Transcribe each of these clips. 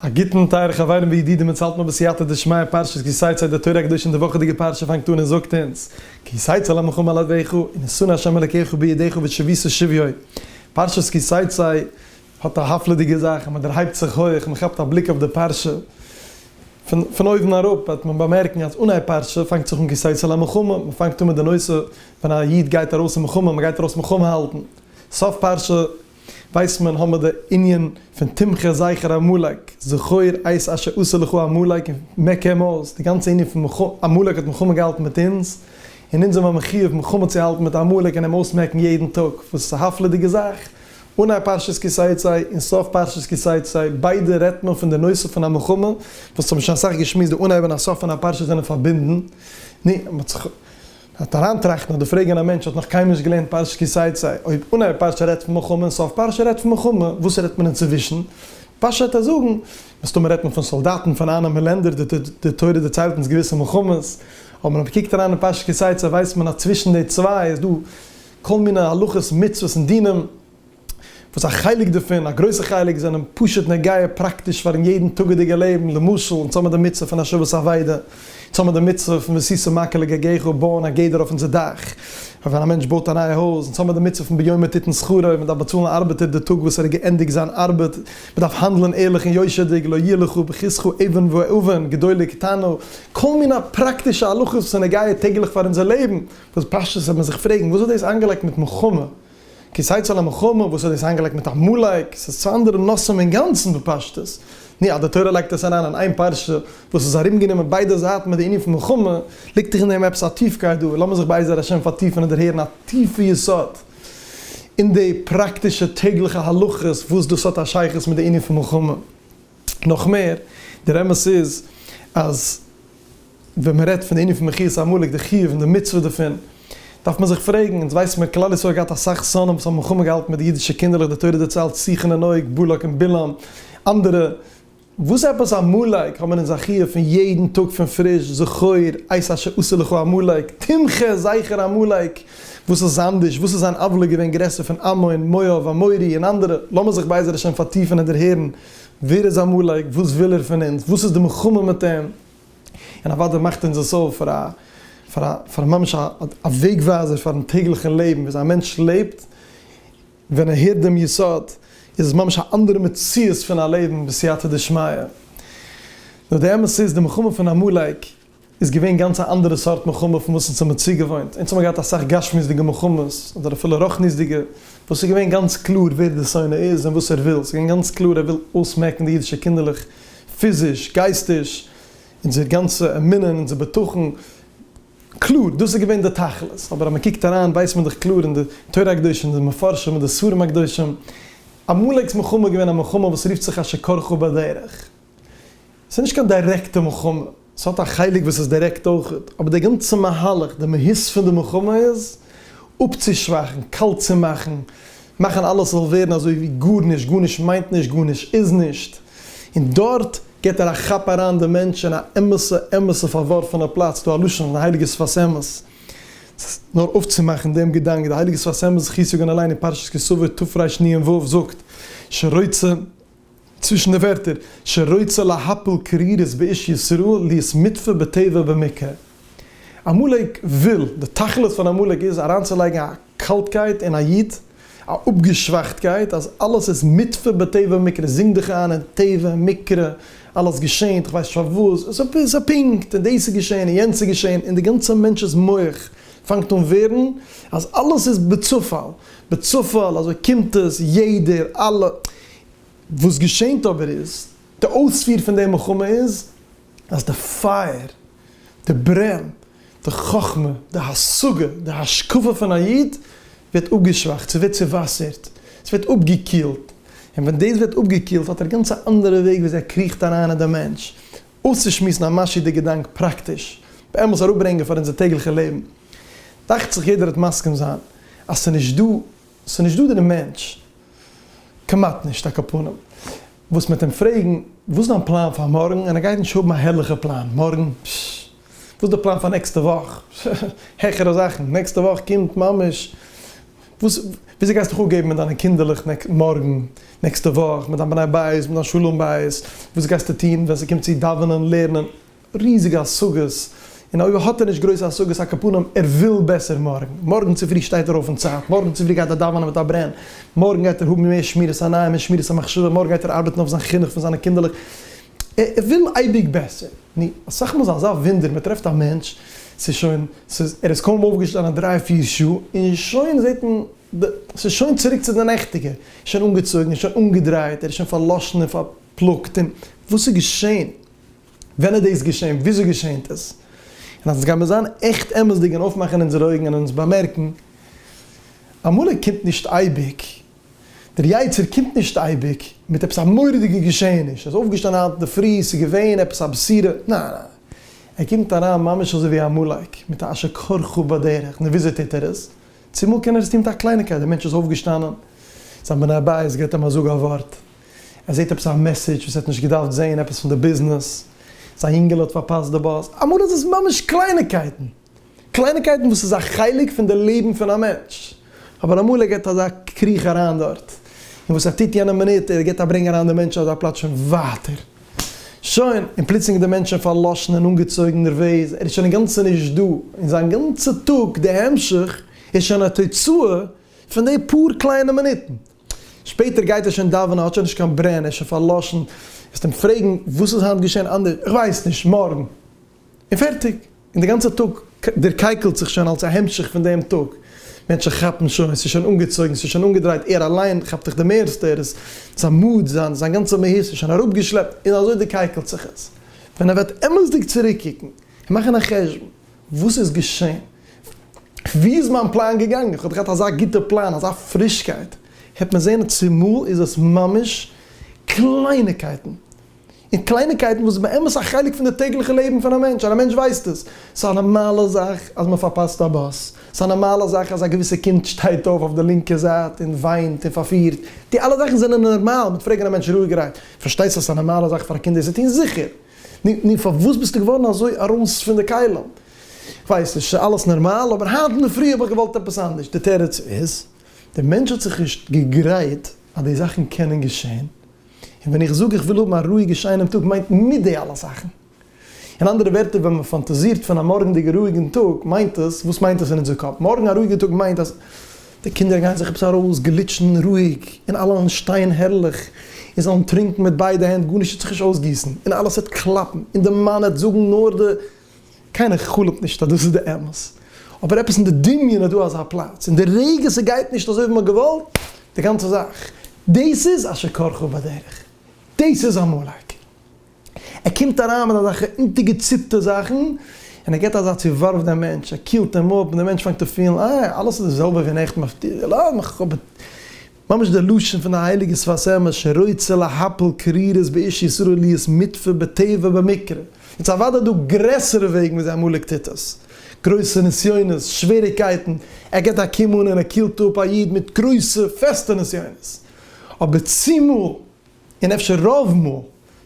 א גוטן טייערע חברים וידידים אונז האלט נאך בסייעתא דשמיא פרשת כי תצא די תורה הקדושה און די וואכעדיגע פרשה פאנגט אן און זאגט אונז כי תצא למלחמה על אויביך און נשׂא ה' אלקיך בידיך ושביתו שביו פרשת כי תצא האט א הפלא'דיגע זאך אז מען דערהייבט זיך הויך מען כאפט א בליק אויף די פרשה פון פון אויבן אראפ וועט מען באמערקן אז אנהייב פרשה פאנגט זיך אן כי תצא למלחמה מען פאנגט אן מיט די נושא ווען א איד גייט ארויס אין מלחמה מען גייט ארויס מלחמה האלטן סוף פרשה ווייסט מען האמער די ענין פון תמחה זכר עמלק, זכור את אשר עשה לך עמלק און מכה עמוז, די גאנצע ענין פון עמלק האט מלחמה געהאלטן מיט אונז, און אונז זעמער מחיוב מלחמה צו האלטן מיט עמלק און אים אויסמעקן יעדן טאג, וואס איז א הפלא'דיגע זאך, אנהייב פרשת כי תצא און סוף פרשת כי תצא ביידע רעדט מען פון די נושא פון א מלחמה, וואס האט מען שוין אסאך געשמועסט, די אנהייב און א סוף פון א פרשה זענען פארבינדן, נו, מען האט זיך. האט אריינטראכטן אדער פרעגען א מענטש האט נאך קיינמאל נישט געלערנט פרשת כי תצא, אויב אנהייב פרשה רעדט פון מלחמה און סוף פרשה רעדט פון מלחמה, וואס רעדט מען אינצווישן? פשוטע זאגן, מסתמא רעדט מען פון סאלדאטן פון אננעמען לענדער, די תורה דערציילט אונז געוויסע מלחמות, אבער ווען מ'קוקט אריין אין פרשת כי תצא ווייסט מען אז צווישן די צוויי איז דא כל מיני הלכות מצוות און דינים. וואס א חלק דערפון, א גרויסע חלק, זענען פשוט נוגע פראקטיש פארן יעדן טאגעדיגע לעבן, למשל אונז האבן די מצוה פון השבת אבידה, אונז האבן די מצוה פון וששא מכה לגגך, בויען א גדר אויף אונזער דאך, ווען א מענטש בויט א נייע הויז, אונז האבן די מצוה פון ביומא תיתן שכרו, מען דארף באצאלן א ארבעטער די טאג וואס ער האט געענדיגט זיין ארבעט, מען דארף האנדלען ערליך און יושר'דיג, לא ילכו בחסכו אבן ואבן, גדול קטנו, כל מיני פראקטישע הלכות וואס איז נוגע טעגליך פאר אונזער לעבן, וואס פשטות וועט מען זיך פרעגן, וואס האט דאס איינגעלייגט מיט מלחמה? כיסא צל המחמר, וואס האט דאס איינגעלייגט מיט עמלק? ס'איז צוויי אנדערע נושאים אינגאנצן בפשטות. נו, אז די תורה לייגט עס אריין אין איין פרשה, וואס איז ארומגענומען ביידע זייטן מיט די ענין פון מלחמה, ליגט דאך אין דעם עפעס א טיפקייט דא, לאמיר זיך בעזר השם פארטיפן און דערהערן א טיפע יסוד אין די פראקטישע טעגליכע הלכות וואס דאס האט א שייכות מיט די ענין פון מלחמה. נאך מער, דער אמת איז אז ווען מען רעדט פון די ענין פון מחיית עמלק, די חיוב און די מצוה דערפון, דארף מען זיך פרעגן, אונז ווייסן מיר כלל ישראל האט געהאט אסאך שונאים וואס האבן מלחמה געהאלטן מיט די אידישע קינדערלעך, די תורה דערציילט סיחון און אוג, בלק און בלעם, אנדערע, וואס עפעס עמלק האבן אונז א חיוב פון יעדן טאג פון פריש, זכור, עשה אשר עשה לך עמלק, תמחה, זייכער עמלק, וואס איז אנדערש, וואס איז זיין עוולה געווען גרעסער פון עמון, מואב, אמורי און אנדערע, לאמיר זיך בעזר השם פארטיפן און דערהערן ווער איז עמלק? וואס וויל ער פון אונז? וואס איז די מלחמה מיט אים? און אוודאי מאכט אונז עס אויף פאר א פאר א פאר ממש א א וועג ווייזער פארן טעגליכן לעבן ווי אזוי א מענטש לעבט ווען ער הערט דעם יסוד איז עס ממש א אנדערע מציאות פון א לעבן בסייעתא דשמיא. נאר די אמת איז די מלחמה פון עמלק איז געווען גאנץ א אנדערע סארט מלחמה פון וואס אונז האמיר צוגעוואוינט, אונז האמיר געהאט אסאך גשמיות'דיגע מלחמות, אדער אפילו רוחניות'דיגע, וואס איז געווען גאנץ קלאר ווער די שונא איז און וואס ער וויל, ס'איז געווען גאנץ קלאר ער וויל אויסמעקן די אידישע קינדערלעך פיזיש, גייסטיש, אונזער גאנצע אמונה און אונזער בטחון, קלאר, דאס איז געווען די תכלית, אבער אז מען קוקט אריין ווייסט מען דאך קלאר אין די תורה הקדושה און די מפרשים און די ספרים הקדושים, עמלק'ס מלחמה איז געווען א מלחמה וואס רופט זיך אשר קרחו בדרך. ס'איז נישט קיין דירעקטע מלחמה, ס'האט א חלק וואס איז דירעקט אויך, אבער די גאנצע מהלך, די מהות פון די מלחמה איז אפצושוואכן, קאלט צו מאכן, מאכן אלעס זאל ווערן אזוי ווי גארנישט, גארנישט מיינט נישט, גארנישט איז נישט, און דארט גיבט ער א כאפ אריין די מענטש אין א אמת'ע אמת'ע פארווארפענע פלאץ, ס'דא א לשון אויף די הייליגע שפת אמת, נאר אויפצומאכן דעם געדאנק, די הייליגע שפת אמת זיך צו זאגן אליין אין פרשת כי סוף ותפרש ני ע ו זאגט, שרוצה. צווישן די ווערטער שרוצה להפיל קרירות באיש ישראל להיות מוטפל בתיבה במקוה. עמלק וויל, די תכלית פון עמלק איז אריינצולייגן א קאלטקייט אין א איד, א אפגעשוואכטקייט, אז אלעס איז מוטפל בתיבה במקרה, זינג דיך איין אין טבע, מקרה, אלעס געשענט, איך ווייס נישט פארוואס, עס איז א פונקט, און דאס איז געשען, און יענץ איז געשען, און די גאנצע מענטש'ס מח פאנגט אן ווערן אז אלעס איז בצופאל, בצופאל, אזוי קומט עס, יעדער, אלע. וואס געשענט אבער איז, די אויספיר פון די מלחמה איז, אז די פייער, די ברען, די חכמה, די השגה, די השקפה פון א איד, ווערט אפגעשוואכט, ס'ווערט צעוואסערט, ס'ווערט אפגעקילט, און ווען דאס ווערט אפגעקילט האט ער גאנץ א אנדערע וועג וויאזוי ער קריכט אריין אין די מענטש, אויסצושמועסן א משי די געדאנק פראקטיש, באמת אראפברענגען פאר אונזער טעגליכע לעבן, דאכט זיך יעדער וועט מסכים זיין אז ס'נישט דא ס'איז נישט דא דער מענטש, כמעט נישט, א קאפאנעם, וואס מ'וועט אים פרעגן, וואס איז דיין פלאן פאר מארגן? און ער גייט נישט האבן א הערליכע פלאן, מארגן? פשש! וואס איז די פלאן פאר נעקסטע וואך? העכערע זאכן, נעקסטע וואך קומט ממש, וואס, וויאזוי גייסטו זיך אפגעבן מיט דיינע קינדערלעך נעקסט, מארגן, נעקסטע וואך, מיט דיין בני בית, מיט דיין שלום בית, וואס גייסטו טון ווען ס'קומט צו דאווענען, לערנען? ריזיגע השגות, און אויב האט ער נישט גרויסע השגות אקאפנים ער וויל בעסער מארגן, מארגן צופרי שטייט ער אויף אין צייט, מארגן צופרי גייט ער דאווענען מיט א ברען, מארגן גייט ער האבן מער שמירת עיניים און שמירת המחשבה, מארגן גייט ער ארבעטן אויף זיין חינוך פון זיינע קינדערלעך, ער וויל אייביג בעסער, נו, אסאך מאל איז אזא וואונדער מען טרעפט א מענטש ס'איז שוין ס'איז ער איז קוים אויפגעשטאנען דריי פיר שעה און שוין זעט מען די ס'איז שוין צוריק צו די נעכטיגע, שוין אנגעצויגן, שוין אנגעדרייט, ער איז שוין פארלאשן און פארפלאגט און וואס איז געשען? ווען איז דאס געשען? וויאזוי געשענט עס? און אז עס גייט מיר זיין עכט אמת'דיג און אויפמאכן אונזערע אויגן און אונז באמערקן, אמאל ער קומט נישט אייביג, דער יצה ר קומט נישט אייביג מיט עפעס א מורא'דיגע געשעעניש, ער איז אויפגעשטאנען היינט אינדערפרי, עס איז געווען עפעס א בשורה, ניין ניין, ער קומט אריין ממש אזוי ווי א עמלק, מיט א אשר כרכו בדרך, נו וויאזוי טוט ער עס? צומאל קען ער עס טון מיט א קלייניגקייט, דער מענטש איז אויפגעשטאנען, זיין בני הבית געבט אים א זאג א ווארט, ער זעט עפעס א מעסעדזש וואס ער האט נישט געדארפט זען, עפעס פון די ביזנעס, זיין יונגעלע האט פארפאסט די באס, אמאל איז עס ממש קלייניקייטן, קלייניקייטן וואס איז א חלק פון די לעבן פון א מענטש, אבער אמאל ער גיבט אזא קריך אריין דארט, און וואס ער טוט יענע מינוט, ער גיבט א ברענג אריין די מענטשן אזא פלאץ שוין ווייטער, שוין, און פלוצלינג איז די מענטש שוין פארלאשן און אנגעצויגן נערוועז, ער איז שוין אינגאנצן נישט דא, און זיין גאנצע טאג, די המשך, איז שוין א תוצאה פון די פאר קליינע מינוטן. שפעטער גייט ער שוין דאווענען, האט שוין נישט קיין ברען, ער איז שוין פארלאשן, וועסט אים פרעגן וואס איז היינט געשען אנדערש, איך ווייס נישט, מארגן. און פערטיג. און די גאנצע טאג דערקייקלט זיך שוין אלס א המשך פון דעם טאג. מענטשן כאפן שוין, ס'איז שוין אנגעצויגן, ס'איז שוין אנגעדרייט, ער אליין כאפט זיך די מערסטע, ער איז, זיין מוד, זיין גאנצע מהות איז שוין אראפגעשלעפט, און אזוי דערקייקלט זיך עס. ווען ער וועט אמת'דיג צוריקקוקן און מאכן א חשבון, וואס איז געשען? ווי איז מיין פלאן געגאנגען? איך האב געהאט אזא גוטע פלאן, אזא פרישקייט, העט מען זען, צומאל איז עס ממש קלייניקייטן, און קלייניקייטן וואס איז באמת א חלק פון די טעגליכע לעבן פון א מענטש, און א מענטש ווייסט עס, ס'איז א נארמאלע זאך אז מען פארפאסט א באס, ס'איז א נארמאלע זאך אז א געוויסע קינד שטייט אויף אויף די לינקע זייט און וויינט און פארפירט, די אלע זאכן זענען נארמאל, מ'וועט פרעגן א מענטש רואיגערהייט, פארשטייסט אז ס'איז א נארמאלע זאך פאר א קינד דאס צו טון? זיכער! נו, נו, פארוואס ביסטו געווארן אזוי ארויס פון די כלים? איך ווייס נישט, ס'איז אלעס נארמאל, אבער היינט אינדערפרי האב איך געוואלט עפעס אנדערש. די תירוץ איז, דער מענטש האט זיך נישט געגרייט אז די זאכן קענען געשען, און ווען איך זאג איך וויל האבן א רואיגע שיינעם טאג מיינט מיט די אלע זאכן. אין אנדערע ווערטער ווען מען פאנטאזירט פון א מארגנדיגע רואיגן טאג מיינט עס, וואס מיינט עס אין אונזער קאפ? מארגן א רואיגע טאג מיינט אז די קינדער גייען זיך עפעס ארויס גליטשן רואיג, און אלע וועלן שטיין הערליך, און זאלן טרינקן מיט ביידע הענט, גארנישט וועט זיך נישט אויסגיסן, און אלעס וועט קלאפן, און די מאן וועט זאגן נאר די. קיינער חלומ'ט נישט אז דאס איז די אמת, אבער עפעס אין די דמיון איז דא אזא פלאץ, און די רגע ס'גייט נישט אזוי ווי מ'האט געוואלט, די גאנצע זאך, דאס איז אשר קרך בדרך, דאס איז עמלק. ער קומט אריין מיט אזעלכע אונטערגעציפטע זאכן, און ער געבט אזא צואווארף דעם מענטש, ער קילט אים אפ, און דער מענטש פאנגט אן פילן, אה, אלעס איז די זעלבע ווי נעכטן אויף די, לאז מיך, איך האב, ממש דער לשון פון די הייליגע שפת אמת, שרוצה להפיל קרירות באיש ישראל להיות מוטפל בטבע במקרה. יעצט אוודאי דא גרעסערע וועגן ווי אזוי עמלק טוט עס, גרויסע נסיונות, שוועריגקייטן, ער געבט א קום אן און ער קילט אפ א איד מיט גרויסע פעסטע נסיונות, אבער צומאל, און אפשר רוב מאל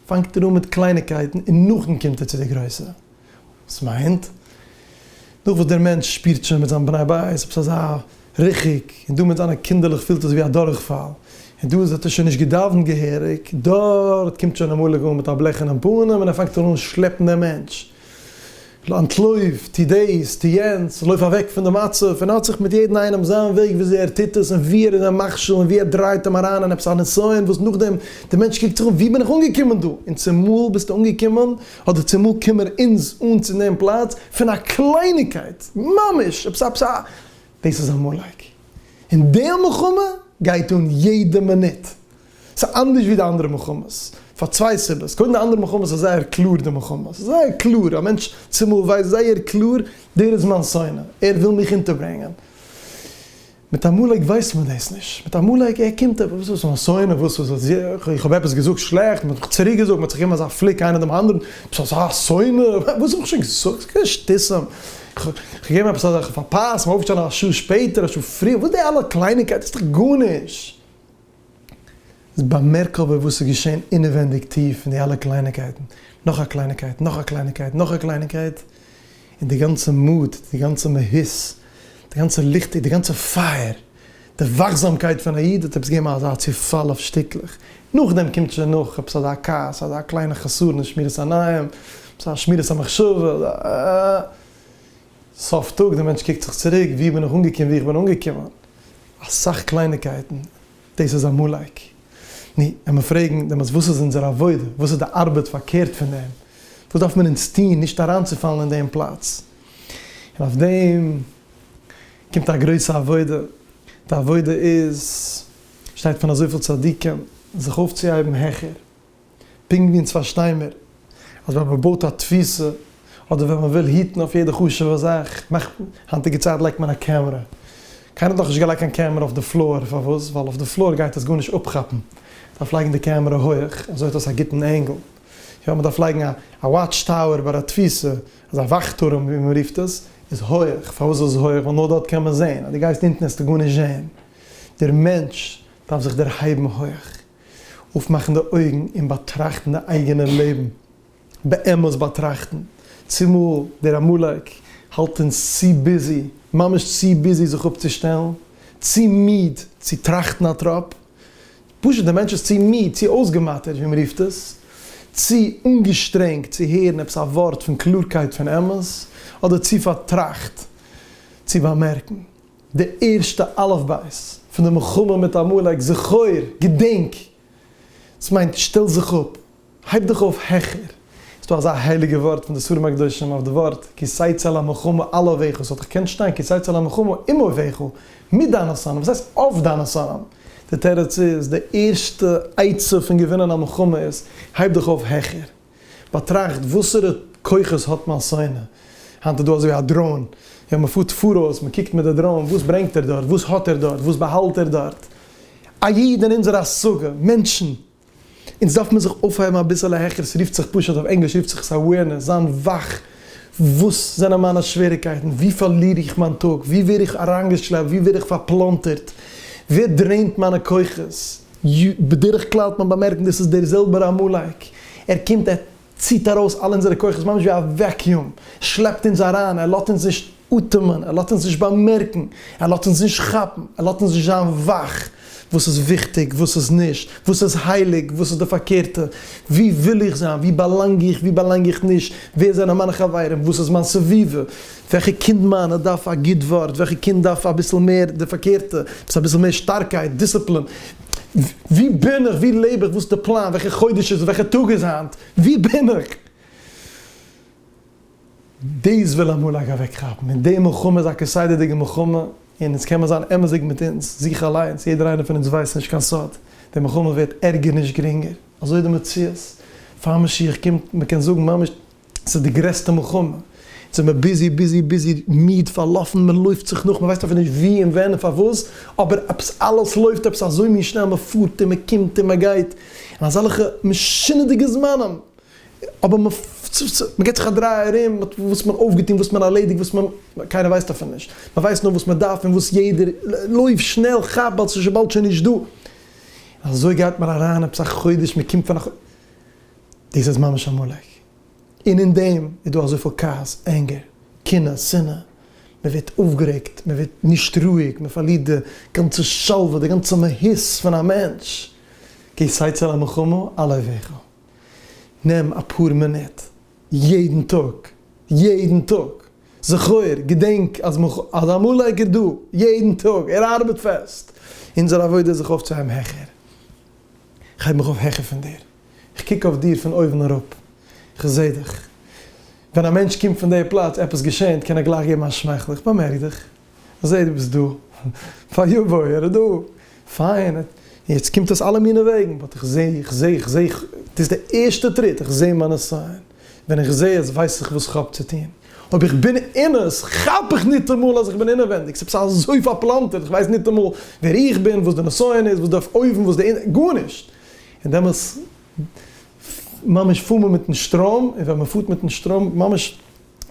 פאנגט ער אן מיט קלייניקייטן און נאכדעם קומט ער צו די גרויסע. וואס מיינט, נאך וואס דער מענטש שפירט שוין מיט זיין בני בית עפעס אזא ריחוק, און דא מיט זיינע קינדערלעך פילט עס ווי א דורכפאל, און דא האט ער שוין נישט געדאוונט געהעריג, דארט קומט שוין אמאליג אן מיט א בלעכענעם פנים און ער פאנגט אן אן שלעפן דעם מענטש. אנטלויף, טו דאס, טו יענץ, לויף אוועק פון די מצב, און האט זיך מיט יעדן איינעם זיין וועג וויאזוי ער טוט עס, און ווי ער איז א מכשיל, און ווי ער דרייט אים אריין אין עפעס א נסיון וואס נאכדעם דער מענטש קוקט זיך אום, ווי בין איך אנגעקומען דא? און צומאל ביסטו אנגעקומען, אדער צומאל קומען אונז אן צו דעם פלאץ, פון א קלייניגקייט, ממש עפעס א עפעס א, דאס איז עמלק, און די מלחמה גייט אן יעדע מינוט. ס'איז אנדערש ווי די אנדערע מלחמות פאר צוויי סיבות, קודם די אנדערע מלחמות איז זייער קלאר די מלחמה, ס'איז זייער קלאר, א מענטש צומאל ווייסט זייער קלאר דער איז מיין שונא, ער וויל מיך אונטערברענגען. מיט עמלק ווייסט מען דאס נישט, מיט עמלק ער קומט ער, וואס איז מיין שונא, וואס איז עס, איך האב עפעס געזאגט שלעכט, מען האט מיך צוריק געזאגט, מען האט זיך געגעבן אזא פליק איינער דעם אנדערן, ביסט אזא שונא, וואס האב איך שוין געזאגט, ס'איז קיין שטיסען, איך האב געגעבן עפעס אזא, איך האב פארפאסט, מען אויפשטעלן א שעה שפעטער, א שעה פריער, וואס די אלע קלייניקייט, דאס איז דאך גארנישט. איז באמערק אבער וואס איז געשען אינעווענדיג טיף אין די אלע קלייניקייטן, נאך א קלייניקייט, נאך א קלייניקייט, נאך א קלייניקייט, און די גאנצע מוט, די גאנצע מהות, די גאנצע ליכטיג, די גאנצע פייער, די וואכזאמקייט פון א איד האט עפעס געגעבן אזא צופאל אויף שטיקלעך, נאכדעם קומט שוין נאך עפעס אזא כעס, אזא קליינע חסרון אין שמירת עיניים, אזא שמירת המחשבה, אזא א. סוף טאג, דער מענטש קוקט זיך צוריק, וואו בין איך אנגעקומען, וואו איך בין אנגעקומען, אסאך קלייניקייטן, דאס איז עמלק. נו, ווען מיר פרעגן דעמאלטס וואס איז אונזער עבודה, וואס איז די ארבעט פארקערט פון דעם, וואס דארף מען אונז טון נישט אריינצופאלן אין דעם פלאץ, און אויף דעם קומט א גרויסע עבודה, די עבודה איז, שטייט פון אזויפיל צדיקים, זיך אויפצוהייבן העכער, פונקט ווי אונז פארשטיי מיר אז ווען מען בויט א תפיסה אדער ווען מען וויל היטן אויף יעדע חשוב'ע זאך מאכט מען, היינטיגע צייט לייגט מען א קעמרא, קיינער האט נאך נישט געלייגט קיין קעמרא אויף די פלאר, פארוואס? ווייל אויף די פלאר גייט עס גארנישט אפכאפן, דארף לייגן די קעמרא הויעך, אזוי האט דאס א גוטן ענגל, יא מען דארף לייגן א וואטש טאוער ביי א תפיסה, אזא וואך טורעם ווי מען רופט עס, איז הויעך, פארוואס איז עס הויעך? ווייל נאר דארט קען מען זען, אז דו גייסט אונטן וועסטו גארנישט זען, דער מענטש דארף זיך דערהייבן הויעך. אויפמאכן די אויגן און באטראכטן די אייגענע לעבן, באמת באטראכטן, צומאל דער עמלק האלט אונז צו ביזי, ממש צו ביזי זיך אפצושטעלן, צו מיד צו טראכטן א טראפ, פשוט דער מענטש איז צו מיד, צו אויסגעמאטערט ווי מען רופט עס, צו אנגעשטרענגט צו הערן עפעס א ווארט פון קלארקייט פון אמת, אדער צו פארטראכט צו באמערקן. די ערשטע אלף בית פון די מלחמה מיט עמלק, זכור, געדענק, דאס מיינט שטעל זיך אפ, הייב דיך אויף העכער, איז דא אזא הייליגע ווארט פון די ספרים הקדושים אויף די ווארט כי צייצא למלחמה אל אויביך, ס'וואלט דאך געקענט שטיין כי צייצא למלחמה עם אויביך, מיט דיינע שונאים, וואס הייסט אויף דיינע שונאים? די תירוץ איז, די ערשטע עצה פון געווינען א מלחמה איז, הייב דיך אויף העכער. באטראכט וואסערע כוחות האט מיין שונא, היינט איז דא אזוי א דראון, יא מען פארט פאראויס, מען קוקט מיט די דראון וואס ברענגט ער דארט, וואס האט ער דארט, וואס באהאלט ער דארט, א איד אין אונזער השגה, מענטשן, אונז דארף מען זיך אויפהייבן אביסעלע העכער, עס רופט זיך פשוט אויף ענגליש רופט זיך עס awareness, זיין וואך, וואס זענען מיינע שוועריקייטן, וואו פארליר איך מיין טאג, וואו ווער איך אריינגעשלעפט, וואו ווער איך פארפלאנטערט, ווער דרעינט מיינע כוחות. י. בדרך כלל האט מען באמערקט דאס איז דער זעלבער עמלק. ער קומט, ער ציט ארויס אלע אונזערע כוחות ממש ווי א וועקיום, ער שלעפט אונז אריין, ער לאזט אונז נישט אטעמען, ער לאזט אונז נישט באמערקן, ער לאזט אונז נישט כאפן, ער לאזט אונז נישט זיין וואך, וואס איז וויכטיג, וואס איז נישט, וואס איז הייליג, וואס איז די פארקערטע, וואו וויל איך זיין, וואו באלאנג איך, וואו באלאנג איך נישט, ווער זענען מיינע חברים, וואס איז מיין סביבה, וועלכע קינד מיינע דארף א גוט ווארט, וועלכע קינד דארף אביסל מער די פארקערטע, עפעס אביסל מער שטארקייט, דיסציפלין, ווי בין איך, ווי לעב איך, וואס איז די פלאן, וועלכע חודש איז, וועלכע טאג איז היינט, ווי בין איך? דאס וויל אמאל א געוועק כאפן, און די מלחמה איז א כסדר'דיגע מלחמה, און אונז קען מען זיין אמת'דיג מיט אונז זיך אליינס, יעדער איינער פון אונז ווייסט נישט קיין סוד, די מלחמה ווערט ערגער נישט גרינגער, אזוי איז די מציאות, פאר משיח קומט, מען קען זאגן ממש. ס'איז די גרעסטע מלחמה, אונז זעמער ביזי ביזי ביזי, מיד, פארלאפן, מען לויפט זיך נאך, מען ווייסט אפילו נישט ווי און ווען און פארוואס, אבער עפעס אלעס לויפט עפעס אזוי מין שנעל, מען פארט און מען קומט און מען גייט אין אזעלכע משונה'דיגע זמנים, אבער מען געבט זיך א דריי ארום, מען האט וואס מען אויפגעטון, וואס מען ארלעדיגט, וואס מען, קיינער ווייסט אפילו נישט, מען ווייסט נאר וואס מען דארף און וואס יעדער, לויף שנעל, כאפ ווייל ס'איז שוין באלד שוין נישט דא, אזוי גייט מען אריין עפעס א חודש, מען קומט פון א חו. דאס איז ממש עמלק, און אין דעם איז דא אזויפיל כעס, ענגער, קנאה, שנאה, מען ווערט אויפגערעגט, מען ווערט נישט רואיג, מען פארלירט די גאנצע שלווה, די גאנצע מהות פון א מענטש, גיי סיי צו א מלחמה על אויביך, נעם אפאר מינוט יעדן טאג, יעדן טאג, זכור, געדענק אז עמלק איז דא יעדן טאג, ער ארבעט פעסט, אונזער עבודה איז זיך אויפצוהייבן העכער. כ'הייב מיך אויף העכער פון דיר. כ'קוק אויף דיר פון אויבן אראפ. כ'זע דיך. ווען א מענטש קומט פון די פלאץ, עפעס געשענט, קען ער גלייך געבן א שמייכל. כ'באמערק דיך. כ'זע דו ביסט דא. פאר יו בוי, ער איז דא. פיין. יעצט קומט עס אלע מיני וועגן. באט כ'זע, כ'זע, כ'זע. דאס איז די ערשטע טריט. כ'זע מיינע סיין. ווען איך זע עס ווייס איך וואס כ'האב צו טון. אויב איך בין אין עס, כאפ איך ניטאמאל אז איך בין אינעווענדיג, ס'איז עפעס אזוי פארפלאנטערט, איך ווייס ניטאמאל ווער איך בין, וואס די נסיון איז, וואס די אויבן, וואס די אונטן, גארנישט! און דעמאלס ממש פאר מען מיטן שטראם, און ווען מ'פארט מיטן שטראם, ממש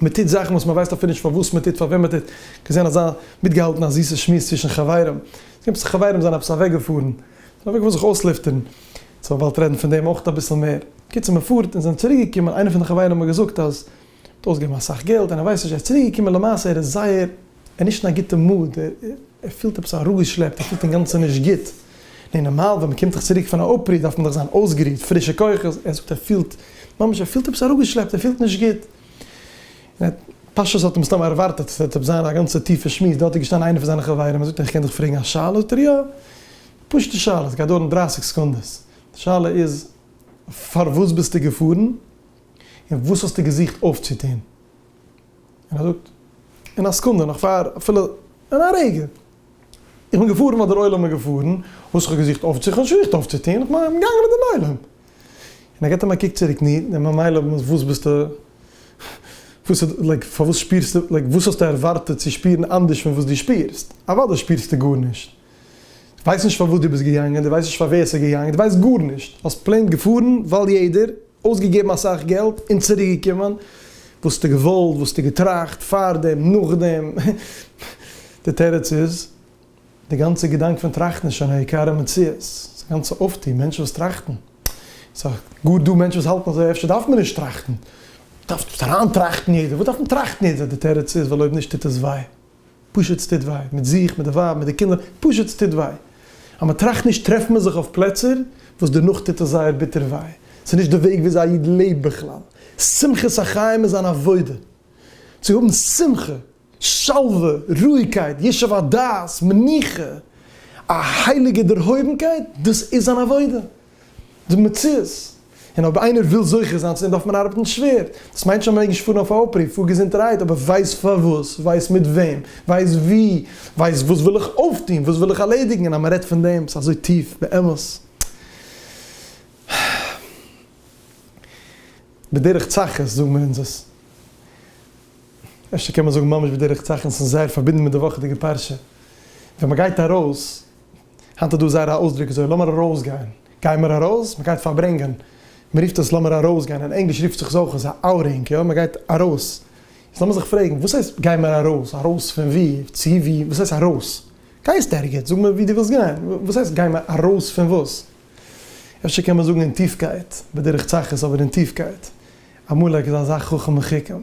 מען טוט זאכן וואס מ'ווייסט אפילו נישט פארוואס מען טוט, פארוועם מען טוט, געזען אזא, מיטגעהאלטן א זיסע שמועס צווישן חברים, עפעס חברים זענען עפעס אוועקגעפארן, זענען אוועקגעפארן זיך אויסלופטערן, סאו מ'וואלט רעדן פון דעם אויך אביסל מער. קיצור מ'פארט און זענען צוריק געקומען איינע פון די חברים האבן געזאגט אז מ'האט אויסגעגעבן אסאך געלט און ער ווייסט נישט ער איז צוריק געקומען למעשה ער איז זייער ער איז נישט אין א גוטע מאד ער פילט עפעס אראפגעשלעפט ער פילט אינגאנצן נישט גוט נו נארמאל ווען מ'קומט דאך צוריק פון א אפרו דארף מען דאך זיין אויסגערוהט פרישע כוחות ער זאגט ער פילט ממש ער פילט עפעס אראפגעשלעפט ער פילט נישט גוט און ער פשוט האט מסתמא ערווארטעט ס'וועט עפעס זיין א גאנצע טיפע שמועס דארט איז געשטאנען איינע פון זיינע חברים ער זאגט אים איך קען דיך פרעגן א שאלה זאגט ער יא. פשוטע שאלה, עס גייט דויערן דרײַסיק סעקונדעס, די שאלה איז פארוואס ביסטו געפארן און וואס האסטו געזוכט אויפצוטון? און ער זאגט אין א סעקונדע נאך פאר אפילו אין א רגע, איך בין געפארן ווייל דער עולם איז געפארן, וואס האב איך געזוכט אויפצוטון? נישט געזוכט אויפצוטון, איך בין געגאנגען מיט דעם עולם. און ער געבט אים א קוק צוריק, נו, און ממילא וואס ביסטו, וואס איז, לייק, פארוואס שפירסטו, לייק, וואס האסטו ערווארטעט צו שפירן אנדערש פון וואס דו שפירסט? אוודאי שפירסטו גארנישט. ווייסט נישט פארוואס דו ביסט געגאנגען, דו ווייסט נישט פאר ווער עס איז געגאנגען, דו ווייסט גארנישט, האסט פלעין געפארן ווייל יעדער, אויסגעגעבן אסאך געלט און צוריק געקומען, וואס האסטו געוואלט, וואס האסטו געטראכט, פארדעם, נאכדעם, די תירוץ איז, די גאנצע געדאנק פון טראכטן איז שוין א עיקר המציאות, ס'איז א גאנצע אויפטו, מענטשן וואס טראכטן, ס'איז גאר דא מענטשן וואס האלטן אזוי, אפשר דארף מען נישט טראכטן, דארפסט אריין טראכטן יעדער, וואס דארף מען טראכטן יעדער, די תירוץ איז, ווייל אויב נישט טוט עס וויי. פשוט ס'טוט וויי, מיט זיך, מיט די ווייב, מיט די קינדער, פשוט ס'טוט וויי. אז מ'טראכט נישט טרעפט מען זיך אויף פלעצער וואס דערנאך טוט עס זייער ביטער וויי. ס'איז נישט די וועג וויאזוי א איד לעבט בכלל. שמחת החיים איז אן עבודה. צו האבן שמחה, שלווה, רואיגקייט, ישוב הדעת, מנוחה, א הייליגע דערהויבנקייט, דאס איז אן עבודה. די מציאות. און אויב איינער וויל זוכה זיין צו דעם דארף מען ארבעטן שווער. דאס מיינט שוין מען מעג נישט פארן אויף א אפרוף פאר געזונטערהייט, אבער ווייס פארוואס, ווייס מיט וועם, ווייס ווי, ווייס וואס וויל איך אויפטון, וואס וויל איך ערלעדיגן, און אז מען רעדט פון דעם, ס'איז אזוי טיף, באמת. בדרך צחות זאגן מיר אונז עס. אפשר קען מען זאגן ממש בדרך צחות, און ס'איז זייער פארבינדן מיט די וואכעדיגע פרשה. ווען מען גייט ארויס, היינט איז דא אזא רע אויסדרוק אזוי לאמיר ארויסגיין, גיי מיר ארויס, מען גייט פארברענגען, מען רופט עס לאמיר ארויסגיין, אין ענגליש רופט זיך עס אויך אזוי אוטינג, יא מען גייט ארויס, יעצט לאמיר זיך פרעגן וואס הייסט גיי מיר ארויס, ארויס פון ווי, צו ווי, וואס הייסט ארויס, גייסט ערגעץ, זאג מיר ווי דו ווילסט גיין, וואס הייסט גיי מיר ארויס פון וואס, אפשר קען מען זאגן אין טיפקייט, בדרך צחות אבער אין טיפקייט, עמלק איז אזא חכם וחכם.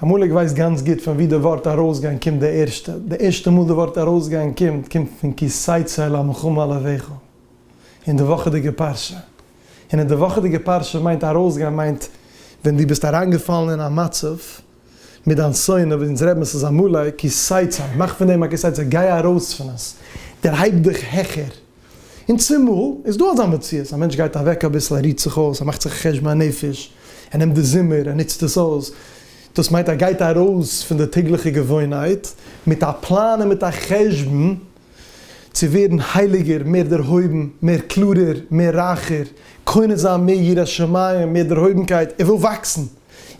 עמלק ווייסט גאנץ גוט פון וואו די ווארט ארויסגיין קומט די ערשטע. די ערשטע מאל די ווארט ארויסגיין קומט, קומט פון כי ששת אל המלחמה אל אביך, אין די וואכעדיגע פרשה. און אין די וואכעדיגע פרשה מיינט ארויסגיין מיינט ווען דו ביסט אריינגעפאלן אין א מצב מיט דיין שונא, ווי אונז רעדט מען ס'איז עמלק, כי ששת אל, מאך פון דעם א כי ששת, גיי ארויס פון עס, דערהייב דיך העכער. און צומאל איז דא אזא מציאות, א מענטש גייט אוועק אביסל, ער רוהט זיך אויס, ער מאכט זיך א חשבון הנפש, ער נעמט די זומער, ער נוצט עס אויס, דאס מיינט ער גייט ארויס פון די טעגליכע געוואוינהייט, מיט א פלאן און מיט א חשבון צו ווערן הייליגער, מער דערהויבן, מער קלארער, מער רייכער, קונה זיין מער יראת שמים, מער דערהויבנקייט, ער וויל וואקסן,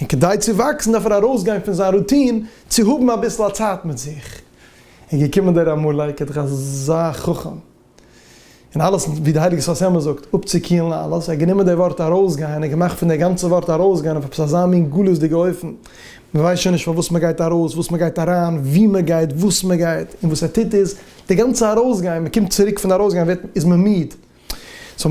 און כדי צו וואקסן דארף ער ארויסגיין פון זיין רוטין צו האבן אביסל א צייט מיט זיך, און געקומען דער עמלק האט דאך אזא חכם און אלעס ווי די הייליגע שפת אמת זאגט אפצוקיהלן אלעס, ער האט גענומען דער ווארט ארויסגיין און געמאכט פון דער גאנצע ווארט ארויסגיין אויף עפעס אזא מין גלות'דיגע אופן, מען ווייסט שוין נישט פארוואס מען גייט ארויס, וואס מען גייט אריין, ווי מען גייט, וואס מען גייט, און וואס ער טוט איז, די גאנצע ארויסגיין, מען קומט צוריק פון ארויסגיין ווערט איז מען מיד, סאו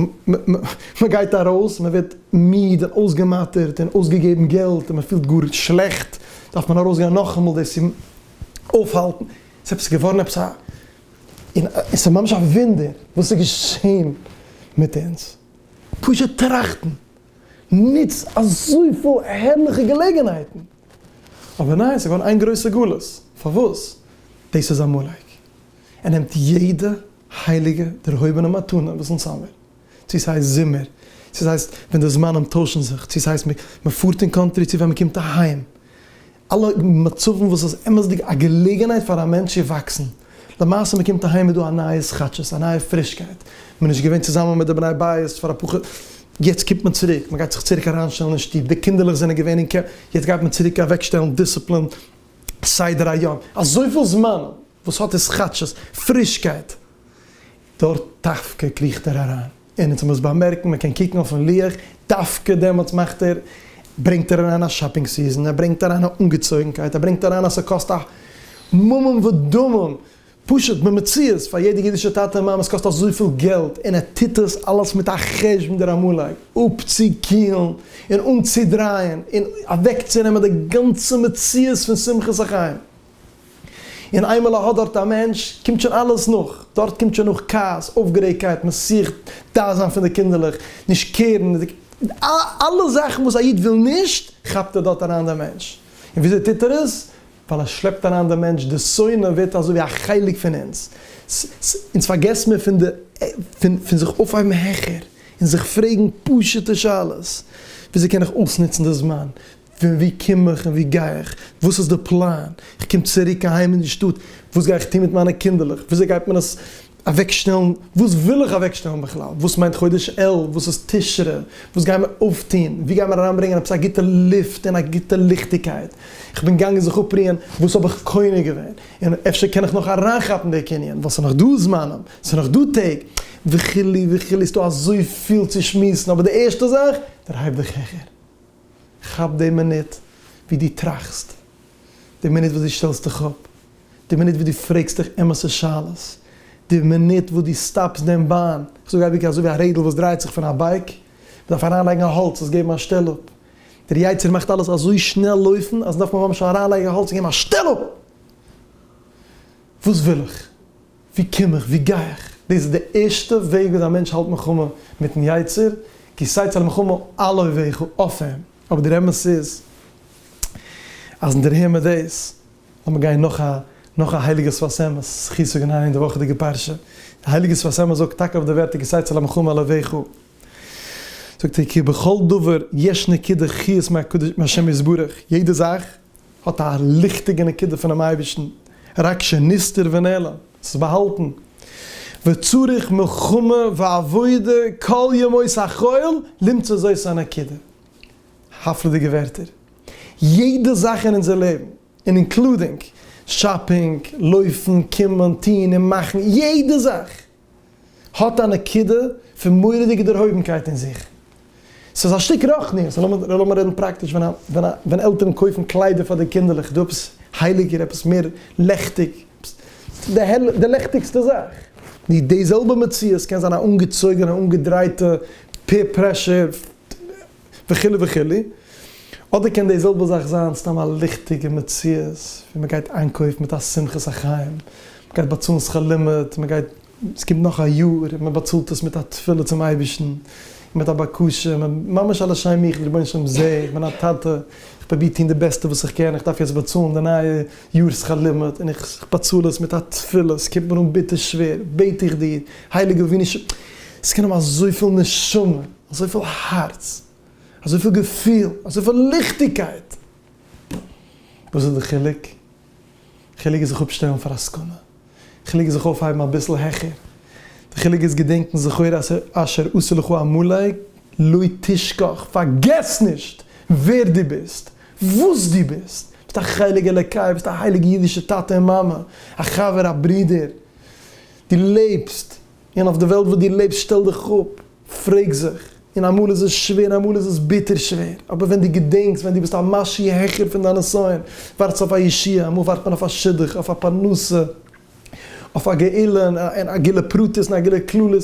מ'גייט ארויס, מ'ווערט מיד און אויסגעמאטערט און אויסגעגעבן געלט און מ'פילט גאר שלעכט, דארף מען ארויסגיין נאכאמאל דאס צו אויפהאלטן, ס'איז עפעס געווארן עפעס א, און ס'איז ממש א וואונדער וואס איז געשען מיט אונז. פשוט טראכטן נוצט אזויפיל הערליכע געלעגנהייטן, אבער ניין, ס'געווארן איין גרויסע גלות, פארוואס? דאס איז עמלק, ער נעמט יעדע הייליגע, דערהויבענע מתנה, וואס אונז האמיר, צו ס'הייסט זומער, צו ס'הייסט ווען די זמנים טוישן זיך, צו ס'הייסט מ'פארט אין קאנטרי, צו ווען מ'קומט אהיים, אלע מצבים וואס איז אמת'דיג א געלעגנהייט פאר א מענטש צו וואקסן, למעשה מ'קומט אהיים איז דא א נייע סכאטשעס, א נייע פרישקייט, מ'איז נישט געווען צוזאמען מיט די בני בית פאר א פאר חו, יעצט קומט מען צוריק, מ'גייט זיך צוריק אריינשטעלן אין שטוב, די קינדערלעך זענען געווען אין קעמפ, יעצט גייט מען צוריק אוועקשטעלן דיסציפלין, סדר היום, אזויפיל זמנים. וואס האט עס כאטשיס פרישקייט. דארט דווקא קריכט ער אריין, און אונז מוז באמערקן, מען קען קוקן אויפן לוח, דווקא דעמאלטס מאכט ער, ברענגט ער אריין א שאפינג סיזען, ער ברענגט אריין א אנגעצויגנקייט, ער ברענגט אריין אז ס'קאסט א ממון ודמים, פשוט במציאות פאר יעדע אידישע טאטע און מאמע, עס קאסט אזויפיל געלט, און ער טוט עס אלעס מיט א חשבון דער עמלק, אפצוקילן און אנצודרייען און אוועקצונעמען די גאנצע מציאות פון שמחת החיים. און איינמאל ער האט דארט א מענטש, קומט שוין אלעס נאך. דארט קומט שוין נאך כעס, אויפגערעגטקייט, מען זוכט דן זיין פון די קינדערלעך, נישט קערן, אלע זאכן וואס א איד וויל נישט, כאפט ער דארט אריין דעם מענטש. און וויאזוי טוט ער עס? ווייל ער שלעפט אריין דעם מענטש, די שונא ווערט אזוי ווי א חלק פון אונז. אונז פארגעסט מען פון די, פון זיך אויפהייבן העכער, און זיך פרעגן פשוט'ע שאלות, וויאזוי קען איך אויסנוצן די זמן? פון וואו קום איך און וואו גיי איך? וואס איז די פלאן? איך קום צוריק אהיים אין די שטאט, וואס גיי איך טון מיט מיינע קינדערלעך? וויאזוי גייט מען עס אוועקשטעלן? וואס וויל איך אוועקשטעלן בכלל? וואס מיינט חודש אלול? וואס איז תשרי? וואס גייען מיר אויפטון? וואו גייען מיר אריינברענגען עפעס א גוטע לופט און א גוטע ליכטיגקייט? איך בין געגאנגען זיך אפרוען, וואס האב איך קונה געווען? און אפשר קען איך נאך אריינכאפן די קנין, ווייל ס'איז נאך דא זמנים, ס'איז נאך דא טעג, וכו' וכו', ס'איז דא אזויפיל צו שמועסן, אבער די ערשטע זאך, דערהייב דיך העכער. כאפ די מינוט ווי דו טראכסט, די מינוט וואס דו שטעלסט דיך אפ, די מינוט וואס דו פרעגסט דיך אמת'ע שאלות, די מינוט וואס דו סטאפסט דעם באן, איך זאג אייביג אזוי ווי א רעדל וואס דרייט זיך פון א בייק, מ'דארף אריינלייגן א האלץ עס געבן א שטעל אפ, דער יצר מאכט אלעס אזוי שנעל לויפן אז מ'דארף ממש אריינלייגן א האלץ און געבן א שטעל אפ! וואס וויל איך? ווי קום איך? ווי גיי איך? דאס איז די ערשטע וועג וויאזוי א מענטש האלט מלחמה מיטן יצר, כי שש על מלחמה על אויביך, אויף אים. אבער דער אמת איז אז נדערהער מיר דאס, לאמיר גיין נאך א נאך א הייליגע שפת אמת, זכי' צו גיין אריין אין די וואכעדיגע פרשה, די הייליגע שפת אמת זאגט טאקע אויף די ווערטער כי שש על מלחמה על אויביך, זאגט ער כי בכל דבר יש נקודה חוץ מהקדוש מהשם יתברך, יעדע זאך האט א ליכטיגע נקודה פונעם אייבערשטן, רק שנסתר ונעלם, ס'איז באהאלטן, וצריך מלחמה ועבודה כל ימות החול למצוא זאת הנקודה, הפלא'דיגע ווערטער, יעדע זאך אין אונזער לעבן, און אינקלודינג שאפינג, לויפן, קומען, טון און מאכן, יעדע זאך, האט א נקודה פון מורא'דיגע דערהויבנקייט אין זיך. ס'איז א שטיק רוחניות. לאמיר רעדן פראקטיש, ווען עלטערן קויפן קליידער פאר די קינדערלעך, דא עפעס הייליגער, עפעס מער לעכטיג, די לעכטיגסטע זאך. די די זעלבע מציאות קען זיין א אנגעצויגענע, אנגעדרייטע, פעיר פרעשור, וכו' וכו'. אדער קען די זעלבע זאך זיין סתם א ליכטיגע מציאות ווי מען גייט איינקויף מיט א שמחת החיים, מען גייט באצאלן שכר לימוד, מען גייט, עס קומט נאך א יאר, און מען באצאלט עס מיט א תפילה צום אייבערשטן, און מיט א בקשה, מען ממש א לשם מיחד, רבונו של עולם זע, איך בין א טאטע, איך פרוביר טון די בעסטע וואס איך קען, איך דארף יעצט באצאלן די נייע יאר שכר לימוד, און איך באצאל עס מיט א תפילה, עס קומט מיר אן ביטער שווער, בעט איך דיר, הייליגער רבונו של, עס קען האבן אזויפיל נשמה. אזויפיל הארץ, אזויפיל געפיל, אזויפיל ליכטיגקייט. וואס איז די חילוק? חילוק איז זיך אפשטעלן פאר א סכנה. חילוק איז זיך אויפהייבן אביסל העכער. די חילוק איז געדענקן זכור את אשר עשה לך עמלק לא תשכח, פארגעס נישט ווער דו ביסט, וואס דו ביסט. ביסט א חלק אלוקי, ביסט א הייליגע אידישע טאטע און מאמע, א חבר, א ברודער. דו לעבסט. און אויף די וועלט וואס דו לעבסט שטעל דיך אפ, פרעג זיך, און אמאל איז עס שווער און אמאל איז עס ביטער שווער, אבער ווען דו געדענקסט ווען דו ביסט א משהו העכער פון דיין נסיון, ווארטסט אויף א ישועה, אמאל ווארט מען אויף א שידוך, אויף א פרנסה, אויף א גאולה, און א גילו פרטית און א גילו כללית,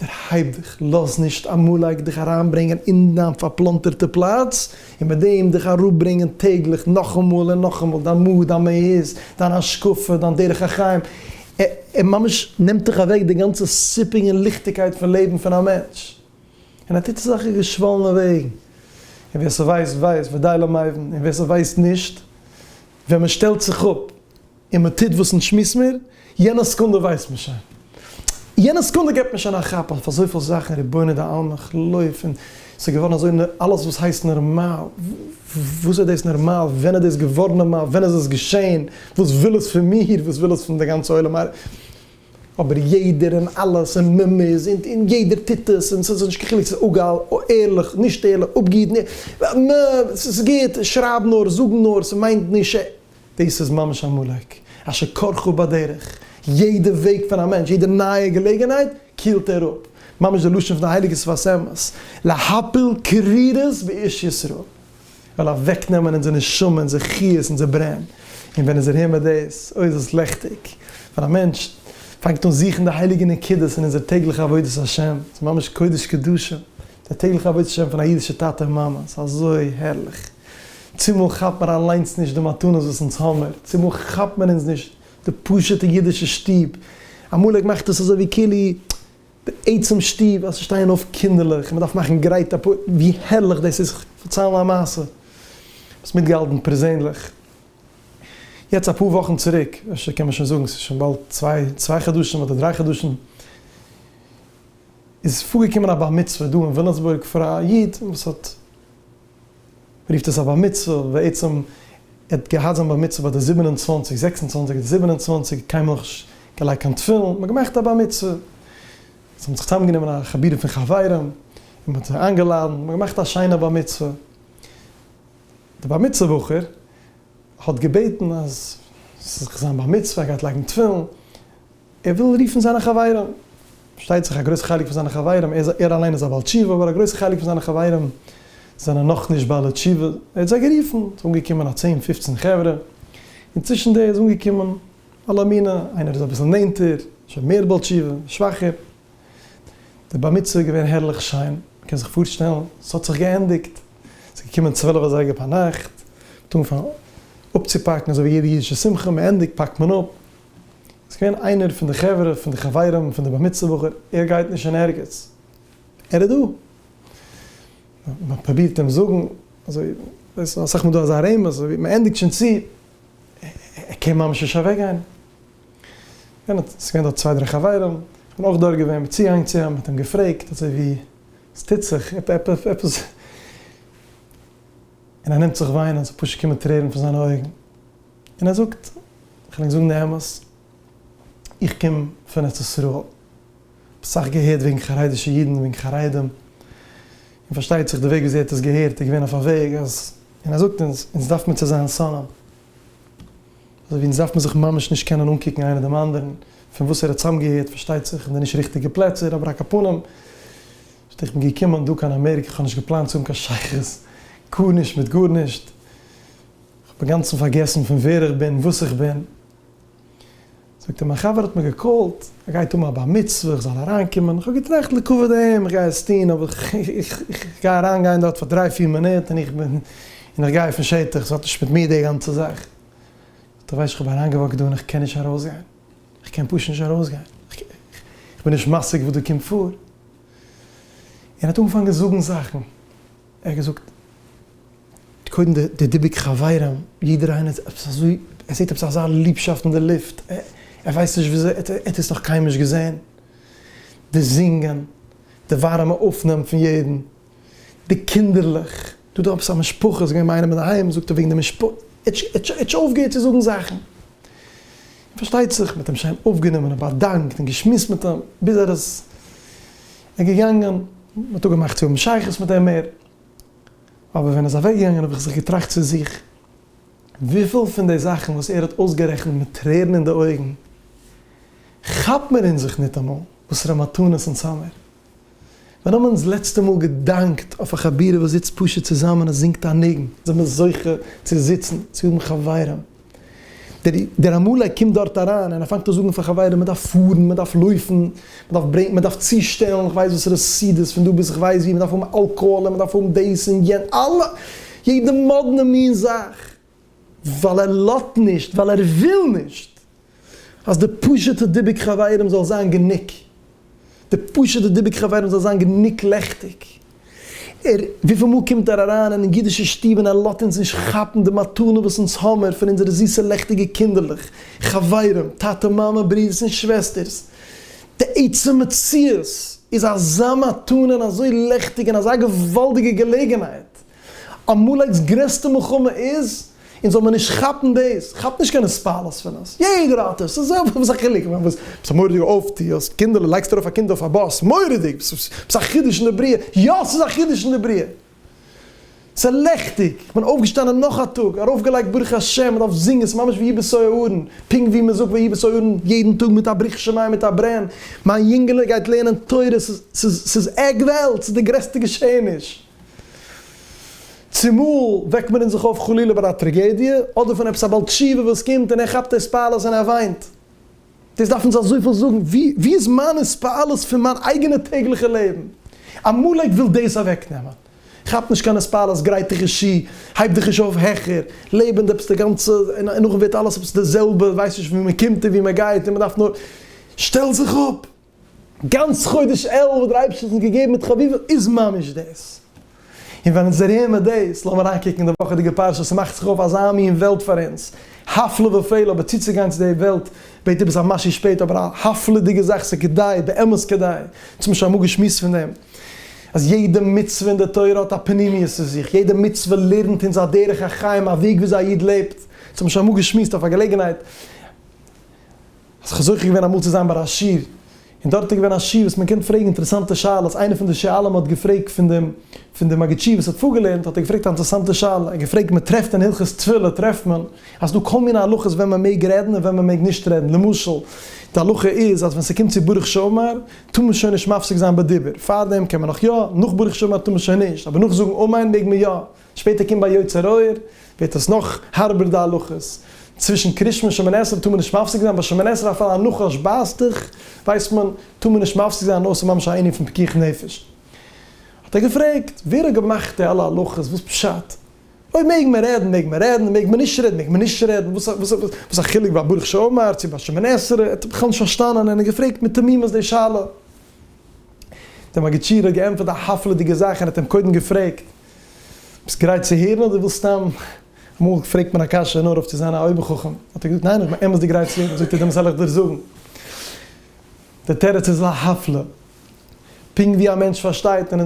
דערהייב דיך, לאז נישט עמלק דיך אריינברענגען אין דיין פארפלאנטערטע פלאץ, און מיט דעם דיך אראפברענגען טעגליך נאכאמאל און נאכאמאל דיין מוד, דיין מהות, דיין השקפה, דיין דרך החיים, ער ממש נעמט דיך אוועק די גאנצע סיפוק און ליכטיגקייט פון לעבן פון א מענטש, און ער טוט עס אויך אין געשוואלענע וועגן, און ווער ס'ווייסט ווייסט ודי למבין, און ווער ס'ווייסט נישט, ווען מען שטעלט זיך אפ און מען טוט וואס נישט מוז מען, יענע סעקונדע ווייסט מען שוין, יענע סעקונדע געבט מען שוין א כאפ אויף אזויפיל זאכן, רבונו דעלמא כ'לויף און. ס'איז געווארן אזוי נ, אלעס וואס הייסט נערמאל, וואס איז דאס נערמאל, ווען איז דאס געווארן נערמאל, ווען איז עס געשען, וואס וויל עס פון מיר, וואס וויל עס פון די גאנצע עולם א. אבער יעדער און אלעס און מ מ איז און און יעדער טוט עס און ס'איז נישט קיין חילוק ס'איז אגאל, ערליך, נישט ערליך, אפגעהיטן, נ, ס'איז גוט, שרייב נאר, זאג נאר, ס'מיינט נישט. דאס איז ממש א מאלק אשר כרכו בדרך, יעדע וועג פון א מענטש, יעדע נייע געלעגענהייט קילט ער אפ, ממש די לשון פון די הייליגע שפת אמת, להפיל קרירות באש ישראל, ער וויל אוועק נעמען אונזער נשמה, אונזער חיות, אונזער ברען, און ווען איז ער אהן מיט דאס, אוי איז עס לעכטיג, ווען א מענטש פאנגט אן זוכן די הייליגע נקודות אין אונזער טעגליכע עבודת השם, ס'איז ממש קודש קדשים, די טעגליכע עבודת השם פון א אידישע טאטע און מאמע, ס'איז אזוי הערליך. צומאל כאפט מיר אליינס נישט די מתנות וואס אונז האמער, צומאל כאפט מיר אונז נישט די פשוטע אידישע שטוב, אמאל איך מאך דאס אזוי ווי כאילו די עצם שטוב אז ס'שטייען אויף קינדערלעך און מ'דארף מאכן גרייט א פ ווי הערליך דאס איז, כ'וועל פארציילן א מעשה וואס מיטגעהאלטן פערזענליך, יעצט אפאר וואכן צוריק, אפשר קען מען שוין זאגן ס'איז שוין באלד צוויי צוויי חדשים אדער דריי חדשים, איז פארגעקומען א בר מצוה דא אין וויליאמסבורג פאר א איד וואס האט. רופט עס א בר מצוה, בעצם ער האט געהאט זיין בר מצוה ביי די זיבן און צוואַנציק, זעקס און צוואַנציק אדער זיבן און צוואַנציק, קיינמאל נישט געלייגט קיין תפילין, מען האט געמאכט א בר מצוה, זיי האבן זיך צוזאם גענומען א חבורה פון חברים, און מען האט זיי איינגעלאדענט, מען האט געמאכט א שיינע בר מצוה, די בר מצוה בחור האט געבעטן אז ס'זאל זיך זיין בר מצוה, ער גייט לייגן תפילין, ער וויל רופן זיינע חברים, פארשטייט זיך א גרויסע חלק פון זיינע חברים, ער אליין איז א בעל תשובה, אבער א גרויסע חלק פון זיינע חברים זענען נאך נישט בעלי תשובה, ער האט זיי גערופן, עס איז אנגעקומען א צען פופצן חברה, און צווישן די איז אנגעקומען אלע מיני, איינער איז אביסל נענטער, שוין מער בעל תשובה, שוואכער, די בר מצוה איז געווען הערליך שיין, מ'קען זיך פארשטעלן, עס האט זיך געענדיגט, עס איז געקומען צוועלף אזייגער פארנאכט, מ'האט אנגעפאנגען אפצופאקן אזוי ווי יעדע אידישע שמחה, מ'ענדיגט פאקט מען אפ, איז געווען איינער פון די חברה פון די חברים פון די בר מצוה בחור, ער גייט נישט אין ערגעץ, ער איז דא, מען פרובירט אים זאגן, אזוי ווייסט אסאך מאל דא אזא רמז, אזוי מען ענדיגט שוין צו, ער קען ממש נישט אוועק גיין, ס'איז געווען דארט צוויי דריי חברים, כ'בין אויך דארט געווען, מען צוגיינגען צו אים, מען האט אים געפרעגט אזוי ווי וואס טוט זיך, עפעס, און ער נעמט זיך וויינען, ס'פשוט קומען טרערן פון זיינע אויגן, און ער זאגט, כ'וועל ענק זאגן די אמת, איך קום פון ארץ ישראל, כ'האב סאך געהערט וועגן חרדישע אידן און וועגן חרדים, און פארשטייט זיך די וועג וויאזוי ער האט עס געהערט איז געווען אויף א וועג אז, און ער זאגט אונז, אונז דארף מיר צו זיין שונאים, אזוי ווי אונז דארף מען זיך ממש נישט קענען אנקוקן איינער דעם אנדערן, פון וואס ער האט צוזאמגעהערט פארשטייט זיך אין די נישט ריכטיגע פלעצער, אבער על כל פנים, זאגט ער, איך בין געקומען דא קיין אמעריקע, כ'האב נישט געפלאנט צו האבן קיין שייכות גארנישט מיט גארנישט, כ'האב אינגאנצן פארגעסן פון ווער איך בין, וואס איך בין. זאגט ער, מיין חבר האט מיר געקאלט, ער גייט האבן א בר מצוה, איך זאל אריינקומען. איך האב געטראכט לכבוד אים, איך גיי עס טון, אבער איך גיי אריין גיין דארט פאר דריי פיר מינוט, און איך בין, און איך גיי פון שטח, ס'האט נישט מיט מיר די גאנצע זאך. זאגט ער, ווייסט, איך האב אריינגעוואקט דא און איך קען נישט ארויסגיין. איך קען פשוט נישט ארויסגיין. איך בין נישט משיג וואס דא קומט פאר. און ער האט אנגעפאנגען זאגן זאכן. ער האט געזאגט קודם די דיבוק חברים, יעדער איינער איז עפעס אזוי, ער זעט עפעס אזא ליבשאפט אין די לופט, ער ווייסט נישט וויאזוי, ער האט עס נאך קיינמאל נישט געזען, די זינגען, די ווארימע אויפנאם פון יעדן, די קינדערלעך, דא איז דא עפעס א משפחה, איז געווען ביי איינעם אינדערהיים, זאגט ער וועגן די משפחה, ער האט שוין אויפגעהערט צו זאגן זאכן, און פארשטייט זיך, מען האט אים שיין אויפגענומען און באדאנקט און געשמועסט מיט אים, ביז ער איז. איז געגאנגען, מען האט אפגעמאכט צו האבן שייכות מיט אים מער, אבער ווען ער איז אוועקגעגאנגען האב איך זיך געטראכט צו זיך, וויפיל פון די זאכן וואס ער האט אויסגערעכנט מיט טרערן אין די אויגן, כאפט מען אין זיך ניטאמאל, וואסערע מתנות אונז האמיר. ווען האבן אונז לעצטע מאל געדאנקט אויף א חבירה וואס זיצט פשוט צוזאמען און זינגט א ניגון? זעמיר זוכה צו זיצן, צו האבן חברים, דער עמלק קומט דארט אריין און ער פאנגט אן זאגן פאר חברים מען דארף פארן, מען דארף לויפן, מען דארף ברענגען, מען דארף צושטעלן כ'ווייס וואסערע סעודות פון דא ביז כ'ווייס ווי, מען דארף האבן אלקאהאל און מען דארף האבן דאס און יענ, אלע, יעדע מאדנע מין זאך, ווייל ער לאזט נישט, ווייל ער וויל נישט. אז די פשוט'ע דיבוק חברים זאל זיין גענוג, די פשוט'ע דיבוק חברים זאל זיין גענוג לעכטיג. ער, וויפיל מאל קומט ער אריין אין אידישע שטוב און ער לאזט אונז נישט כאפן די מתנה וואס אונז האמער פון אונזערע זיסע לעכטיגע קינדערלעך, חברים, טאטע מאמע, ברודערס און שוועסטערס. די עצם מציאות איז אזא מתנה און אזוי לעכטיג און אזא געוואלדיגע געלעגנהייט. עמלק'ס גרעסטע מלחמה איז, אונז זאל מען נישט כאפן דאס, כאפ נישט קיין הספלות פון עס, יעדער האט עס, ס'איז זעלבע, וואס א חילוק, כ'מיין וואס, ביסט א מורא'דיגע אויפטוהערס, קינדערלע, לייגסט ארויף א קינד אויף א באס, מורא'דיג, ביסט א חידוש אין די בריאה, יא ס'איז א חידוש אין די בריאה, ס'איז לעכטיג, איך בין אויפגעשטאנען נאך א טאג, ארויפגעלייגט ברוך השם, מען דארף זינגען, ס'איז ממש ויהי בסוה אהרן, פונקט ווי מען זאגט ויהי בסוה אהרן יעדן טאג מיט א ברוך שמים מיט א ברען, מיין יונגעלע גייט לערנען תורה, ס'איז, ס'איז, ס'איז עק וועלט, ס'איז די גרעסטע געשעעניש. צומאל וועקט מען אין זיך אויף חלילה ביי א טראגעדיע, אדער פון עפעס א בעל תשובה וואס קומט און ער כאפט התפעלות און ער וויינט. דאס דארף אונז אזויפיל זאגן, ווי ווי איז מיין התפעלות פון מיין אייגענע טעגליכע לעבן? עמלק וויל דאס אוועקנעמען. כאפ נישט קיין התפעלות, גרייט דיך איז שי, הייב דיך איז אויף העכער, לעב אין די עפעס די גאנצע, און נאכדעם ווערט אלעס עפעס די זעלבע, ווייסט נישט ווי מען קומט און ווי מען גייט און מען דארף נאר, שטעל זיך אפ! גאנץ חודש אלול וואס דער אייבערשטער האט אונז געגעבן מיט חביבים איז ממש דאס. און ווען אונז הערן מיר דאס, לאמיר אריינקוקן אין די וואכעדיגע פרשה, עס מאכט זיך אויף אזא מין וועלט פאר אונז, הפלא ופלא, אבער צוצוגיין צו די וועלט בעט איבער זיין משהו שפעטער, אבער א הפלא'דיגע זאך, ס'איז כדאי, באמת כדאי, אונז האבן שוין אמאל געשמועסט פון דעם, אז יעדע מצוה אין די תורה האט א פנימיות אין זיך, יעדע מצוה לערנט אונז א דרך החיים, א וועג וויאזוי א איד לעבט, אונז האבן שוין אמאל געשמועסט אויף א געלעגנהייט. האסט זיך זוכה געווען אמאל צו זיין ביי א שיעור, און דארט איז געווען א שיעור וואס מען קען פרעגן אינטערעסאנטע שאלות, איינער פון די שואלים האט געפרעגט פון דעם פון די מגיד שיעור וואס האט פארגעלערנט האט ער געפרעגט א אינטערעסאנטע שאלה, ער האט געפרעגט מען טרעפט אין הלכות תפילה טרעפט מען אז ס'איז דא כל מיני הלכות ווען מען מעג רעדן און ווען מען מעג נישט רעדן, למשל די הלכה איז אז ווען ס'קומט צו ברוך שאמר טאר מען שוין נישט מפסיק זיין בדיבור, פארדעם קען מען נאך יא, נאך ברוך שאמר טאר מען שוין נישט, אבער נאך זאגן אמן מעג מען יא. שפעטער קומט ביי יוצר אור ווערט עס נאך הארבער די הלכות, צווישן קרישמע שמן עשרה טאר מען נישט מפסיק זיין, ביי שמן עשרה אפילו א נחש בייסט דיך ווייסט מען טאר מען נישט מפסיק זיין אויסער ממש א ענין פון פיקוח נפש. האט ער געפרעגט ווער האט געמאכט די אלע הלכות וואס פשט? אויב מעג מען רעדן מעג מען רעדן און מעג מען נישט רעדן מעג מען נישט רעדן וואס א וואס א חילוק ביי ברוך שאמר צו ביי שמן עשרה ער האט בכלל נישט פארשטאנען און ער געפרעגט מיט תמימות די שאלה. די מגיד שיעור האט געענטפערט א הפלא'דיגע זאך ער האט אים קודם געפרעגט. ביסט גרייט צו הערן אדער ווילסט סתם? אמאל פרעגט מען א קשיא נאר אויף צו זיין א אויבערחכם, האט ער געזאגט ניין איך בין אמת'דיג גרייט צו הערן, זאגט ער דעמאלטס וועל איך דיר זאגן, די תירוץ איז להפלא, פונקט ווי א מענטש פארשטייט און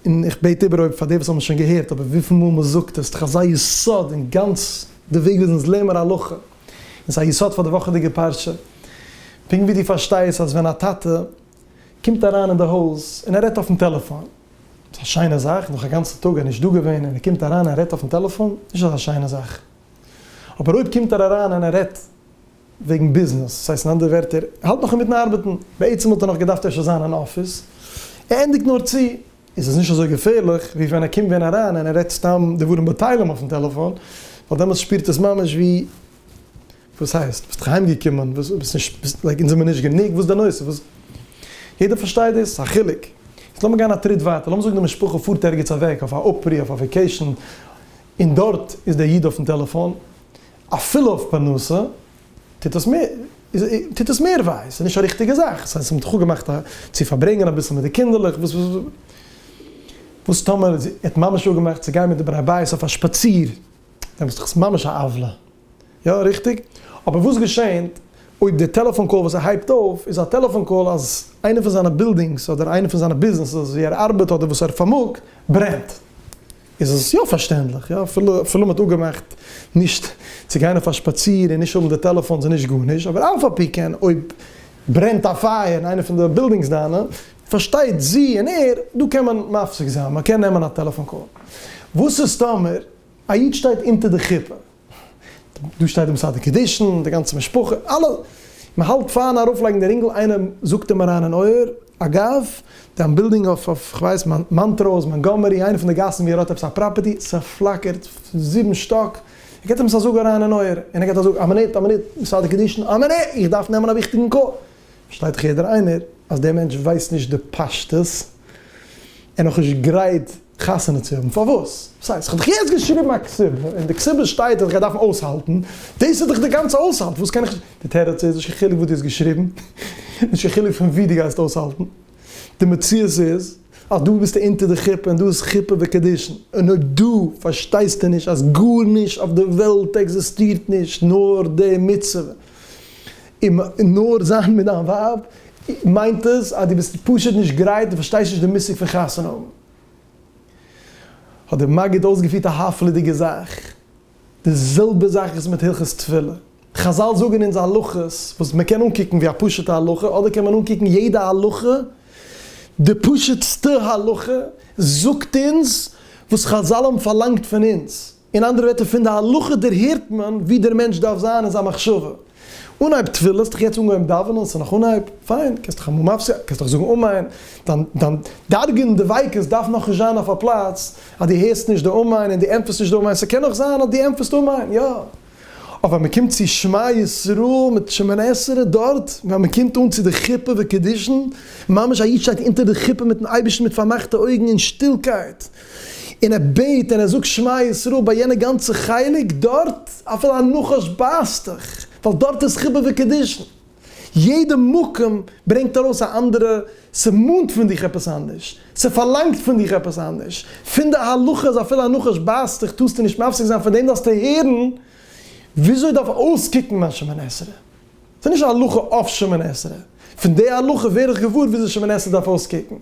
און איך בעט איבער אויב פאר די וואס האבן עס שוין געהערט אבער וויפיל מאל מען זאגט עס איז דאך אזא יסוד אין גאנץ די וועג וויאזוי אונז לערנען הלכה, און ס'איז א יסוד פאר די וואכעדיגע פרשה, פונקט ווי דו פארשטייסט אז ווען א טאטע קומט אריין אין די הויז און ער רעדט אויפן טעלעפאן ס'איז א שיינע זאך, נאך א גאנצע טאג ער נישט דא געווען און ער קומט אריין און רעדט אויפן טעלעפאן, נישט אזא שיינע זאך. אבער אויב קומט ער אריין און ער רעדט וועגן ביזנעס, ס'הייסט אין אנדערע ווערטער, ער האלט נאך אינמיטן ארבעטן, בעצם וואלט ער נאך געדארפט אפשר זיין אין אפיס, ער ענדיגט נאר צו, איז עס נישט אזוי געפערליך ווי ווען ער קומט ווען אריין און ער רעדט סתם דברים בטלים אויפן טעלעפאן, ווייל דעמאלטס שפירט עס ממש ווי. וואס הייסט? ביסט אהיים געקומען? וואס? ביסט נישט? ביסט לייק אונז זעמיר נישט גענוג? וואס איז די נושא? וואס? יעדער פארשטייט דאס? א חילוק? יעצט לאמיר גיין א טריט ווייטער, לאמיר זאגן די משפחה פארט ערגעץ אוועק אויף א אפרי אויף א וועקעישן, און דארט איז דער איד אויפן טעלעפאן, אפילו אויף פרנסה, טוט עס מער, טוט עס מער וויי, ס'איז נישט א ריכטיגע זאך, ס'הייסט מ'האט דאך אפגעמאכט א צו פארברענגען אביסל מיט די קינדערלעך, וואס? וואס? וואס טאמער זי האט ממש אפגעמאכט צו גיין מיט די בני הבית אויף א שפאציר, דעמאלטס איז דאך עס ממש א עוולה, יא ריכטיג, אבער וואס געשענט אויב די טעלעפאן קאל וואס ער הייבט אויף איז א טעלעפאן קאל אז איינע פון זיינע בילדינגס אדער איינע פון זיינע ביזנעסעס ווי ער ארבעט אדער וואס ער פארמאגט ברענט? איז עס יא פארשטענדליך, יא אפילו אפילו מ'האט אפגעמאכט נישט צו גיין אויף א שפאציר און נישט האבן די טעלעפאנס און נישט גארנישט, אבער אף על פי כן אויב ברענט א פייער אין איינע פון די בילדינגס דיינע, פארשטייט זי און ער, דא קען מען מפסיק זיין, מ'קען נעמען א טעלעפאן קאל. וואס איז טאמער א איד שטייט אונטער די חופה? דא שטייט די מסדר קידושין, די גאנצע משפחה, אלע, מען האלט פארן ארויף לייגן די רינגל, איינער זאגט אים אריין אין אויער, אגב, דיין בילדינג אויף אויף כ'ווייס מאנטראוז, מאנגאמערי, איינע פון די גאסן ווי ער האט עפעס א פראפערטי, ס'פלאקערט פון זיבן שטאק, ער געט עפעס א זאג אריין אין אויער, און ער געט א זאג, א מינוט, א מינוט, מסדר קידושין, א מינוט, איך דארף נעמען א וויכטיגן קאל, פארשטייט דאך יעדער איינער אז דער מענטש ווייסט נישט די פשטות, ער נאכנישט גרייט. חתונה צו האבן? פארוואס? וואס הייסט? כ'האב דאך יעצט געשריבן א כתובה, אין די כתובה שטייט אז איך גיי דארפן אויסהאלטן, דאס איז דאך די גאנצע אויסהאלט, וואס קען איך, די תירוץ איז, נישט קיין חילוק וואס דו האסט געשריבן, נישט קיין חילוק פון וואו דו גייסט אויסהאלטן, די מציאות איז אז דא ביסטו אונטער די חופה און דא איז חופה וקדושין, און אויב דא פארשטייסטו נישט אז גארנישט אויף די וועלט עקזיסטירט נישט נאר די מצוה, און נאר זיין מיט דיין ווייב מיינט עס אז דו ביסט פשוט נישט גרייט, דו פארשטייסט נישט די מושג פון חתונה האבן. האט דער מגיד אויסגעפירט א הפלא'דיגע זאך. די זעלבע זאך איז מיט הלכות תפילה. חזל זאגן אונז הלכות וואס מען קען אנקוקן ווי א פשוט'ע הלכה, אדער קען מען אנקוקן יעדע הלכה, די פשוט'סטע הלכה זאגט אונז וואס חזל האבן פארלאנגט פון אונז. אין אנדערע ווערטער, פון די הלכה דערהערט מען ווי דער מענטש דארף זיין אין זיין מחשבה. אנהייב תפילה, האסט דאך יעצט אנגעהויבן דאווענען, ס'איז נאך אנהייב, פיין, קענסט דאך אמאל מפסיק, קענסט דאך זאגן אמן, דיין דיין דאגה און דביקות דארף נאך נישט זיין אויף א פלאץ אז דו הערסט נישט די אמן און דו ענטפערסט נישט די אמן, ס'קען נאך זיין אז דו ענטפערסט אמן, יא. אבער ווען מ'קומט צו שמע ישראל מיט שמונה עשרה דארט, ווען מ'קומט אן צו די חופה וקידושין, ממש א איד שטייט אונטער די חופה מיט'ן אייבערשטן מיט פארמאכטע אויגן אין שטילקייט, און ער בעט און ער זאגט שמע ישראל ביי יענע גאנצע חלק דארט, אפילו א נחש בייסט דיך, ווייל דארט איז חיבה וקידושין, יעדע מקום ברענגט ארויס א אנדערע, ס'מאנט פון דיך עפעס אנדערש, ס'פארלאנגט פון דיך עפעס אנדערש, פון די הלכה איז אפילו א נחש בייסט דיך טארסטו נישט מפסיק זיין, פון דעם דארפסטו הערן וויאזוי דארף אויסקוקן מיין שמן עשרה, ס'איז נישט א הלכה אויף שמן עשרה. פון די הלכה ווער איך געוואר וויאזוי שמן עשרה דארף אויסקוקן.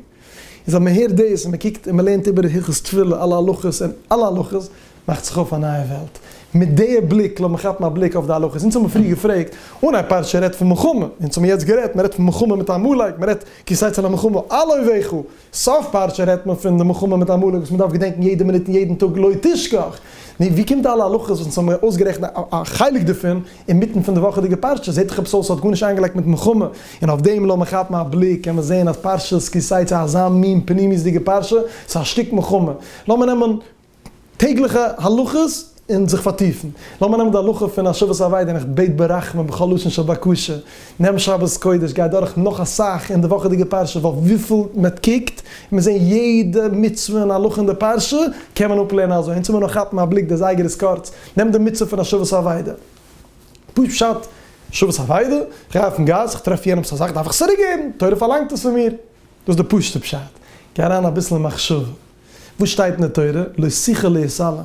איז אז מ'הערט דאס און מ'קוקט און מ'לערנט איבער הלכות תפילה, אלע הלכות און אלע הלכות, מאכט זיך אויף א נייע וועלט. מיט די בליק לאמיר כאפן א בליק אויף די הלכות. אונז האמיר פריער געפרעגט אן א פרשה און רעדט פון מלחמה. אונז האמיר יעצט גערעדט, מ'רעדט פון מלחמה מיט עמלק, מ'רעדט כסייצן א מלחמה, אלוהי ואחיו. סוף פרשה רעדט מען פון די מלחמה מיט עמלק וואס מען דארף געדענקן יעדע מינוט און יעדן טאג לא תשכח. נו, ווי קומט די אלע הלכות וואס אונז האבן מיר אויסגערעכנט א חלק דערפון אינמיטן פון די וואכעדיגע פרשה? זעט עכפ אויס ס'האט גארנישט איינגעלייגט מיט מלחמה, און אויף דעם לאמיר כאפן א בליק קען מען זען אז פרשת כי-תצא איז אזא מין פנימיות'דיגע פרשה, ס'איז א שטיק מלחמה. לאמיר נעמען. טעגליכע הלכות און זיך פארטיפן. לאמיר נעמען די הלכה פון השבת אבידה און איך בעט ברחמים בכל לשון של בקשה, נעם שבת קודש גיי דורך נאך אסאך אין די וואכעדיגע פרשה ווייל וויפיל מען קוקט און מיר זעהן יעדע מצוה און הלכה אין די פרשה קען מען אפלערנען אזוי אונז מוז נאר כאפן א בליק דער זייגער איז קורץ נעם די מצוה פון השבת אבידה פשוט פשט שבת אבידה איך גיי אויפן גאס איך טרעף יענעמס א זאך דארף איך עס צוריק געבן תורה פארלאנגט עס פון מיר דאס איז די פשוטע פשט גיי אריין אביסל אין מחשבה. וואס שטייט אין די תורה, לא שכל להסלם.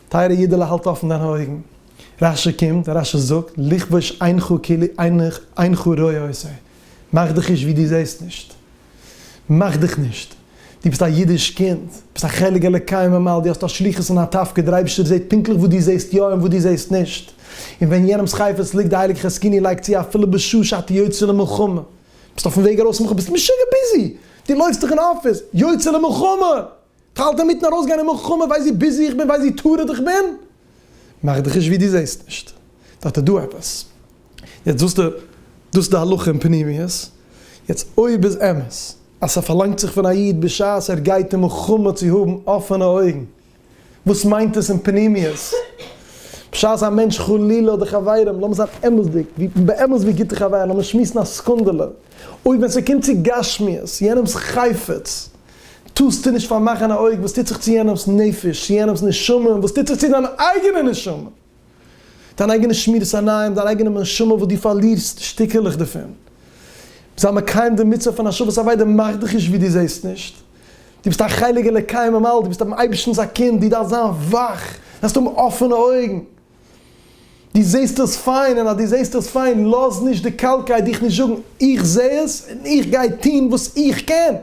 טייערע אידעלע האלט אפן דיינע אויגן, רש י קומט און רש י זאגט, לכבוש עינך כאילו אינך רואה אותו. מאך דיך נישט ווי דו זעסט נישט. מאך דיך נישט. דו ביסט א אידיש קינד, ביסט א חלק אלוקי ממעל, דו האסט א שליחות און א תפקיד, דער אייבערשטער זעט פונקטליך וואס דו זעסט יא און וואס דו זעסט נישט. און ווען יענעמ'ס חפץ ליגט, די הייליגע חזקיני לייגט צו אפילו בשעה שאתה יוצא למלחמה, ביסט אויפן וועג ארויס מח ביסט משוגע ביזי! די לויפסט דאך אין אפיס! יוצא למלחמה! כ'האלט אינמיטן ארויסגיין אין מלחמה ווייסט ווי ביזי איך בין ווייסט ווי טרוד איך בין? מאך דיך נישט ווי די זעסט נישט דארט איז דא עפעס! יעצט זאגסטו דאס איז די הלכה אין פנימיות, יעצט אויב איז אמת אז ס'פארלאנגט זיך פון א איד בשעת ער גייט אין מלחמה צו האבן אפענע אויגן וואס מיינט עס אין פנימיות? בשעת א מענטש חלילה האט די חברים, לאמיר זיין אמת'דיג, ווי באמת ווי גוטע חברים, לאמיר שמועסן א סעקונדעלע, אויב ווען ס'קומט צו גשמיות, יענעמ'ס חפץ, טוסטו נישט פארמאכן א אויג וואס טוט זיך צו יענעמ'ס נפש, צו יענעמ'ס נשמה, און וואס טוט זיך צו דיין אייגענע נשמה. דיין אייגענע שמירת עיניים, דיין אייגענע נשמה וואס דו פארלירסט שטיקעלעך דערפון. זיי מקיים די מצוה פון השבת אבידה מאך דיך נישט ווי דו זעסט נישט. דו ביסט א חלק אלוקי ממעל, דו ביסט דעם אייבערשטנ'ס א קינד, דו דארפסט זיין וואך, דו דארפסט האבן אפענע אויגן. דו זעסט עס פיין, און אז דו זעסט עס פיין, לאז נישט די קאלקייט דיך נישט זאגן, איך זע עס, און איך גיי טון וואס איך קען.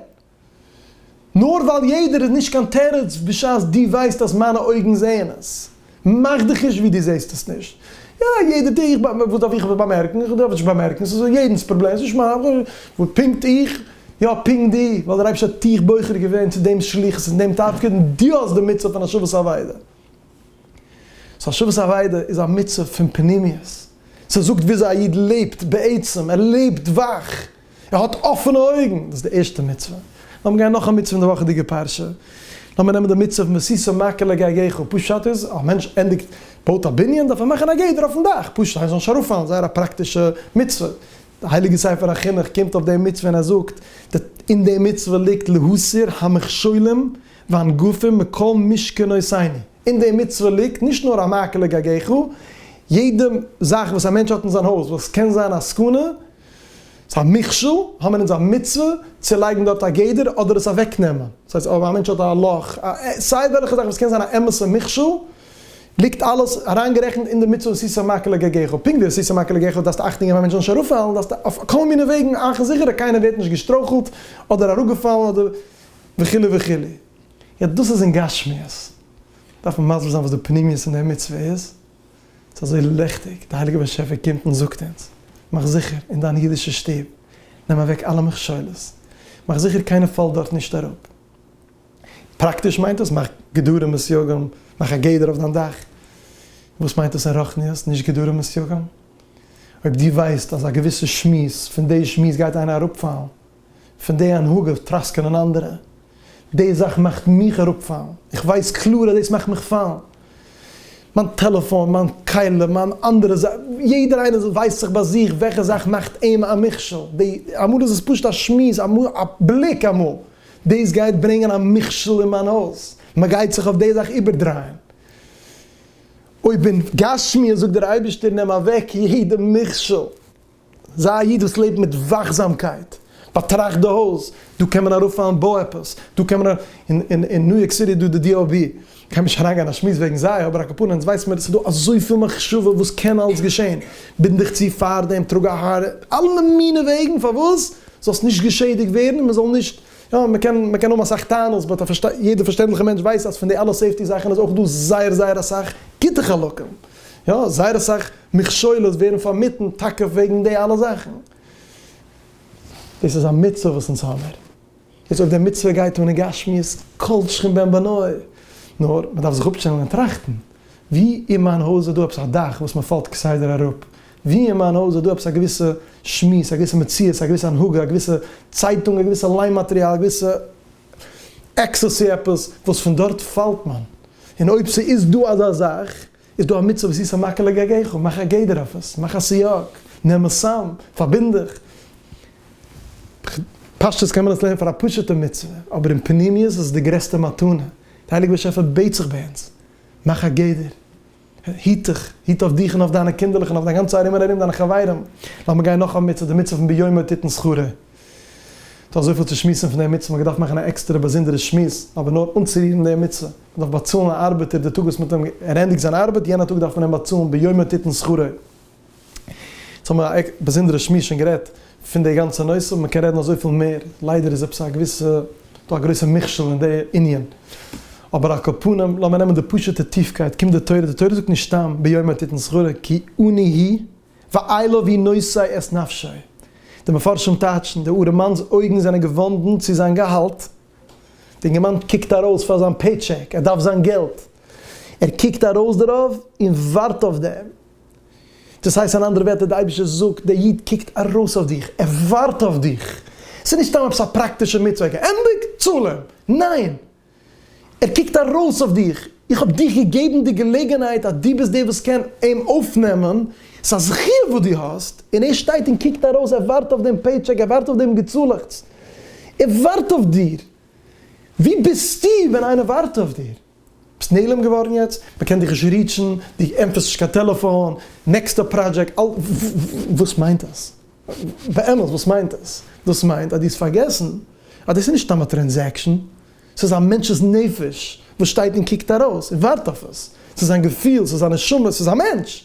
נאר ווייל יעדער איז נישט קיין תירוץ בשעת דו ווייסט אז מיינע אויגן זעען עס. מאך דיך נישט ווי דו זעסט עס נישט. יא יעדער טוט, איך וואס דארף איך עס באמערקן, איך דארף עס נישט באמערקן, ס'איז יעדנ'ס פראבלעם, ס'איז נישט מיין, וואס פונקט איך? יא פונקט דו, ווייל דער אייבערשטער האט דיך בוחר געווען צו דעם שליחות און דעם תפקיד און דו האסט די מצוה פון השבת אבידה. סאו שבת אבידה איז א מצב פון פנימיות, ס'זאגט וויאזוי א איד לעבט בעצם, ער לעבט וואך, ער האט אפענע אויגן, דאס איז די ערשטע מצוה. לאמיר גיין נאך א מצוה אין די וואכעדיגע פרשה, לאמיר נעמען די מצוה מסיסה מכה לגגך, פשט איז אז א מענטש ענדיגט בויט א בנין דארף ער מאכן א גדר אויפן דאך, פשוט איינער זאל נישט ארויפפאלן, זייער א פראקטישע מצוה, די הייליגע ספר החינוך קומט אויף די מצוה און ער זאגט, אין די מצוה ליגט להסיר המכשולים ואין גופים מקום משכנות עיני, אין די מצוה ליגט נישט נאר א מעקה לגגךו, יעדע זאך וואס א מענטש האט אין זיין הויז וואס קען זיין א סכנה, ס'איז א מכשול, האבן מיר אונז א מצוה צו לייגן דארט א גדר אדער עס אוועקנעמען. דאס הייסט אויב א מענטש האט א לאך, סיי וועלכע זאך וואס קען זיין א אמת'ע מכשול, ליגט אלעס אריינגערעכנט אין די מצוה עשית מעקה לגגךו. פונקט ווי עשית מעקה לגגךו דארפסטו אכטונג געבן א מענטש זאל נישט אראפפאלן, דארפסטו אויף כל מיני וועגן מאכן זיכער אז קיינער ווערט נישט געשטרויכלט אדער אראפגעפאלן אדער. וכו' וכו'. יעצט דאס איז אין גשמיות, דארף מען מסביר זיין וואס די פנימיות אין די מצוה איז, ס'איז אזוי ליכטיג, די הייליגע באשעפער קומט און זאגט אונז, מאך זיכער אין דיין אידישע שטוב, נעם אוועק אלע מכשולות, מאך זיכער קיינער פאלט דארט נישט אראפ. פראקטיש מיינט דאס, מאך גדרים וסייגים, מאך א גדר אויף דיין דאך. וואס מיינט דאס אין רוחניות, נישט גדרים וסייגים? אויב דו ווייסט אז א געוויסע שמועס, פון די שמועס גייט איינער אראפפאלן, פון די הנהגה טראסקענען אנדערע, די זאך מאכט מיך אראפפאלן, איך ווייס קלאר אז דאס מאכט מיך פאלן, מיין טעלעפאן, מיין כלים, מיין אנדערע זאכן, יעדער איינער ווייסט זיך ביי זיך וועלכע זאך מאכט אים א מכשול, די, אמאל איז עס פשוט א שמועס, אמאל א בליק, אמאל דאס גייט ברענגען א מכשול אין מיין הויז, מען גייט זיך אויף די זאך איבערדרייען, אויב אין גשמיות זאגט דער אייבערשטער נעם אוועק יעדע מכשול. זיי א איד וואס לעבט מיט וואכזאמקייט, באטראכט די הויז, דא קען מען ארויפפאלן בא עפעס, דא קען מען א, אין אין ניו יארק סיטי איז דא די DOB, כ'גיי נישט אריינגיין אין א שמועס וועגן זיי, אבער א קאפארנע אונז ווייסן מיר עס איז דא אזויפיל מחשבה וואס קען אלס געשען, בינד דיך צו פארדעם, טראג א האר, אלע מיני וועגן פארוואס זאלסט נישט געשעדיגט ווערן און מען זאל נישט, יא מען קען מען קען האבן אסאך טענות באט א פארשט יעדער פארשטענדליכע מענטש ווייסט אז פון די אלע סעיפטי זאכן איז אויך דא זייער זייער אסאך גוטע חלקים. יא, זייער אסאך מכשולות ווערן פארמיטן טאקע וועגן די אלע זאכן. דאס איז א מצוה וואס אונז האמיר. יעצט אויב די מצוה גייט אן אין גשמיות, כל שכן בן בנו. נאר מען דארף זיך אפשטעלן און טראכטן, ווי אין מיין הויז איז דא עפעס א דאך וואס מען פאלט כסדר אראפ? ווי אין מיין הויז איז דא עפעס א געוויסע שמועס, א געוויסע מציאות, א געוויסע הנהגה, א געוויסע צייטונג, א געוויסע ליין מאטריאל, א געוויסע עקסטעסי עפעס וואס פון דארט פאלט מען, און אויב ס'איז דא אזא זאך איז דא א מצוה ועשית המקל לגגך, מאך א גדר אויף עס, מאך א סייג, נעם עס צאם, פארבינד דיך. פשטות קען מען עס לערנען פאר א פשוט'ע מצוה, אבער אין פנימיות איז עס די גרעסטע מתנה, די הייליגע באשעפער בעט זיך ביי אונז, מאך א גדר. היט דיך, היט אויף דיך און אויף דיינע קינדערלעך און אויף דיין גאנצע ארום און ארום דיינע חברים. לאמיר גיין נאך א מצוה, די מצוה פון ביומא תתן שכרה. דא איז אזויפיל צו שמועסן פון די מצוה, מ'וואלט געדארפט מאכן א עקסטערע באזונדערע שמועס, אבער נאר אנצורירן די מצוה. מ'דארף באצאלן א ארבעטער די טאג וואס מ'האט אים ער ענדיגט זיין ארבעט, יענע טאג דארף מען אים באצאלן ביומא תתן שכרה. יעצט האבן מיר א באזונדערע שמועס שוין גערעדט פון די גאנצע נושא, מען קען רעדן אזויפיל מער, ליידער איז עפעס א געוויסע דא א גרויסע מכשול אין די ענין, אבער על כל פנים לאמיר נעמען די פשוטע טיפקייט, קומט די תורה, די תורה זאגט נישט סתם ביומא תתן שכרה כי אני היא ואיילא והיא נושא את נפשי, די מפרשים טייטשן, די ארעמאן'ס אויגן זענען געוואנדן צו זיין געהאלט, די אינגערמאן קוקט ארויס פאר זיין פעי טשעק, ער דארף זיין געלט, ער קוקט ארויס דערויף און ווארט אויף דעם. דאס הייסט אין אנדערע ווערטער, די אייבערשטער זאגט, דער איד קוקט ארויס אויף דיך, ער ווארט אויף דיך. ס'איז נישט סתם עפעס א פראקטישע מצוה, געענדיגט, צאל אים. ניין! ער קוקט ארויס אויף דיך, איך האב דיך געגעבן די געלעגנהייט אז דו ביסט דער וואס קען אים אויפנעמען, ס'איז א זכיה וואס דו האסט, און ער שטייט און קוקט ארויס, ער ווארט אויף דעם פעיטשעק, ער ווארט אויף דעם געצאלעכץ. ער ווארט אויף דיר. וואו ביסטו ווען איינער ווארט אויף דיר? ביסט נעלם געווארן יעצט? מען קען דיך נישט ריעטשן, דו ענטפערסט נישט קיין טעלעפאן, נעקסטע פראדזשעקט, אל. וואס מיינט דאס? באמת וואס מיינט דאס? דאס מיינט אז דו האסט פארגעסן אז דאס איז נישט סתם א טרענזעקשן, ס'איז א מענטש'ס נפש וואס שטייט און קוקט ארויס און ווארט אויף עס, ס'איז זיין געפיל, ס'איז זיין נשמה, ס'איז א מענטש!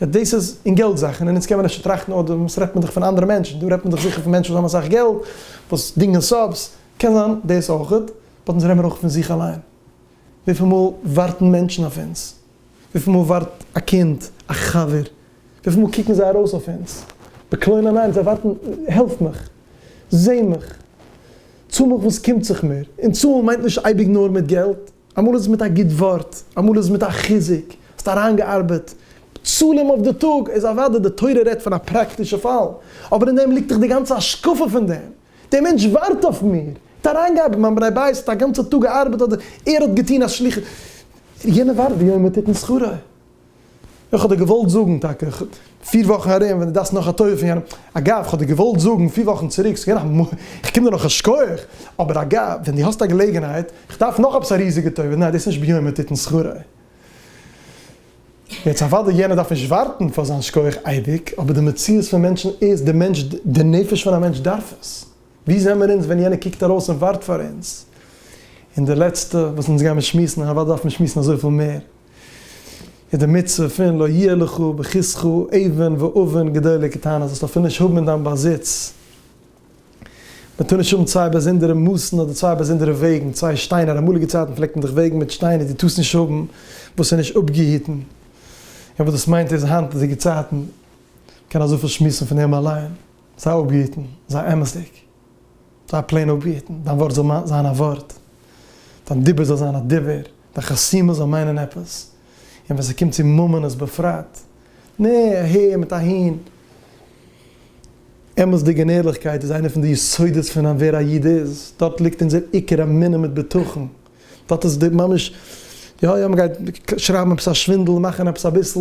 יעצט דאס איז אין געלט זאכן, און יעצט קען מען אפשר טראכטן אוי דאס רעדט מען דאך פון אנדערע מענטשן, דא רעדט מען דאך זיכער פון מענטשן וואס האבן אסאך געלט, וואס דינגען סאבס, קען זיין דאס אויכעט, באט אונז רעדן מיר אויך פון זיך אליין, וויפיל מאל ווארטן מענטשן אויף אונז, וויפיל מאל ווארט א קינד, א חבר, וויפיל מאל קוקן זיי ארויס אויף אונז, בקלונה ניין, זיי ווארטן, העלף מיך, זע מיך, צאל מיך וואס ס'קומט זיך מיר, און צאלן מיינט נישט אייביג נאר מיט געלט, אמאל איז מיט א גוט ווארט, אמאל איז מיט א חיזוק, האסט אריינגעארבעט בצלם אויף די טאג, איז אוודאי די תורה רעדט פון א פראקטישע פאל, אבער אין דעם ליגט דאך די גאנצע השקפה פון דעם, דער מענטש ווארט אויף מיר, האט אריינגעארבעט, מיין בני בית האט א גאנצע טאג געארבעט אדער ער האט געטון א שליחות, יענער ווארט ויאמר תתן שכרו, איך האב דיר געוואלט זאגן טאקע פיר וואכן ארום ווען דו דארפסט נאך א טובה פון יענעם, אגב איך האב דיר געוואלט זאגן פיר וואכן צוריק, ס'איז געווען א, איך קום דיר נאך א שכח, אבער אגב ווען דו האסט א געלעגנהייט, איך דארף נאך עפעס א ריזיגע טובה, ניין דאס איז נישט בימים תתן שכרה, יעצט אוודאי יענער דארף נישט ווארטן פאר זיין שכח אייביג, אבער די מציאות פון מענטשן איז, די מענטש, די נפש פון א מענטש דארף עס, ווי זעמער אונז ווען יענער קוקט ארויס און ווארט פאר אונז, און די לעצטע וואס אונז גיימער שמועסן, און אוודאי דארף מען שמועסן אזויפיל מער. איז די מצוה פון לא יהיה לך בכיסך אבן ואבן גדולה קטנה, זאלסט אפילו נישט האבן אין דיין באזיץ, מען טאר נישט האבן צוויי באזונדערע מאסן אדער צוויי באזונדערע וועגן, צוויי שטיינער, אין אמאליגע צייטן פלעגט מען דאך וועגן מיט שטיינער, דו טארסט נישט האבן וואס איז נישט אפגעהיטן, און וואס דאס מיינט איז היינטיגע צייטן, מען קען אזויפיל שמועסן פון דעם אליין, זיי אפגעהיטן, זיי אמת'דיג. זיי פלעין אפבעטן, דיין ווארט זאל זיין א ווארט, דיין דיבור זאל זיין א דיבור, דיין חסימות זאל מיינען עפעס, און ווען ס'קומט צו ממונות בפרט, נע, אהער מיט אהין. אמת'דיגע און ערליכקייט איז איינע פון די יסודות פון ווער א איד איז, דארט ליגט אונזער עיקר אמונה מיט בטחון. דארט איז די ממש יא יא מ'גייט שרייבן עפעס א שווינדל מאכן עפעס אביסל,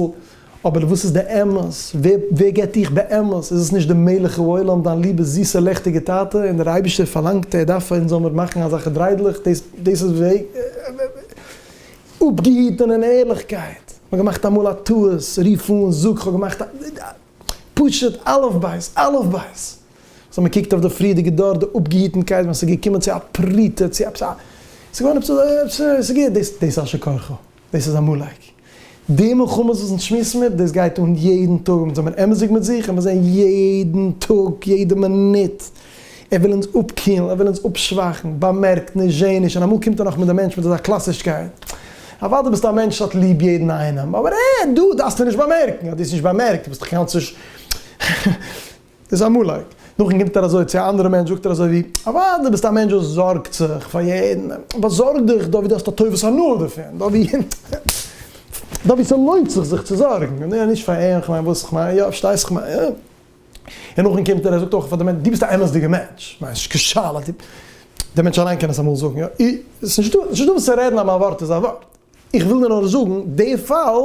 אבער וואס איז די אמת? ווער געט דיך באמת? איז עס נישט די מלך העולם דיין ליבע זיסע לעכטיגע טאטע? און דער אייבישטער פארלאנגט ער דארף אונז זאלמיר מאכן אזעלכע דריידלעך, דאס דאס איז אפגעהיטן און ערליכקייט, מ'האט געמאכט אמאל א טעות, רוף אן, זאג כ'האב געמאכט א פשוט אלף בית אלף בית, סאו מען קוקט אויף די פריערדיגע דור, די אפגעהיטנקייט ווען ס'איז געקומען צו א פרוטה, צו עפעס א, ס'איז געווען עפעס א, עפעס א, ס'איז גוט, דאס איז אשר כרכו, דאס איז עמלק. די מלחמות וואס אונז שמועסן מיר, דאס גייט אן יעדן טאג, אונז זעמיר אמת'דיג מיט זיך, און מיר זעען יעדן טאג, יעדע מינוט, ער וויל אונז אפקילן, ער וויל אונז אפשוואכן, באמערקט נישט, זשע נישט, און אמאל קומט ער נאך מיט די מענטש מיט אזא קלאסישקייט, אוודאי דו ביסט א מענטש, האט ליב יעדן איינעם, אבער אה, דא דארפסטו נישט באמערקן, האט דאס נישט באמערקט, דו ביסט דאך קיינמאל צו. איז א מלאך. נאכדעם קומט ער אזוי צו א אנדערע מענטש זאגט ער אזוי ווי, אוואדע ביסט א מענטש וואס זארגט זיך פאר יעדן, באזארג דיך דא ווי דו האסט א טובת הנאה דערפון, דא ווי דא ווי ס'לוינט זיך זיך צו זארגן, יא נישט פאר אים, כ'מיין וואס כ'מיין, יא פארשטייסט כ'מיין, יא. און נאכדעם קומט ער ער זאגט אויך פאר די מענטש, דו ביסט א אמת'דיגע מענטש, כ'מיין ס'נישט קיין שאלה, דו, דער מענטש אליין קען עס אמאל זאגן, יא, ס'נישט דא, ס'נישט דא וואס צו רעדן אז מיין ווארט איז א ווארט, איך וויל דיר נאר זאגן, די פאל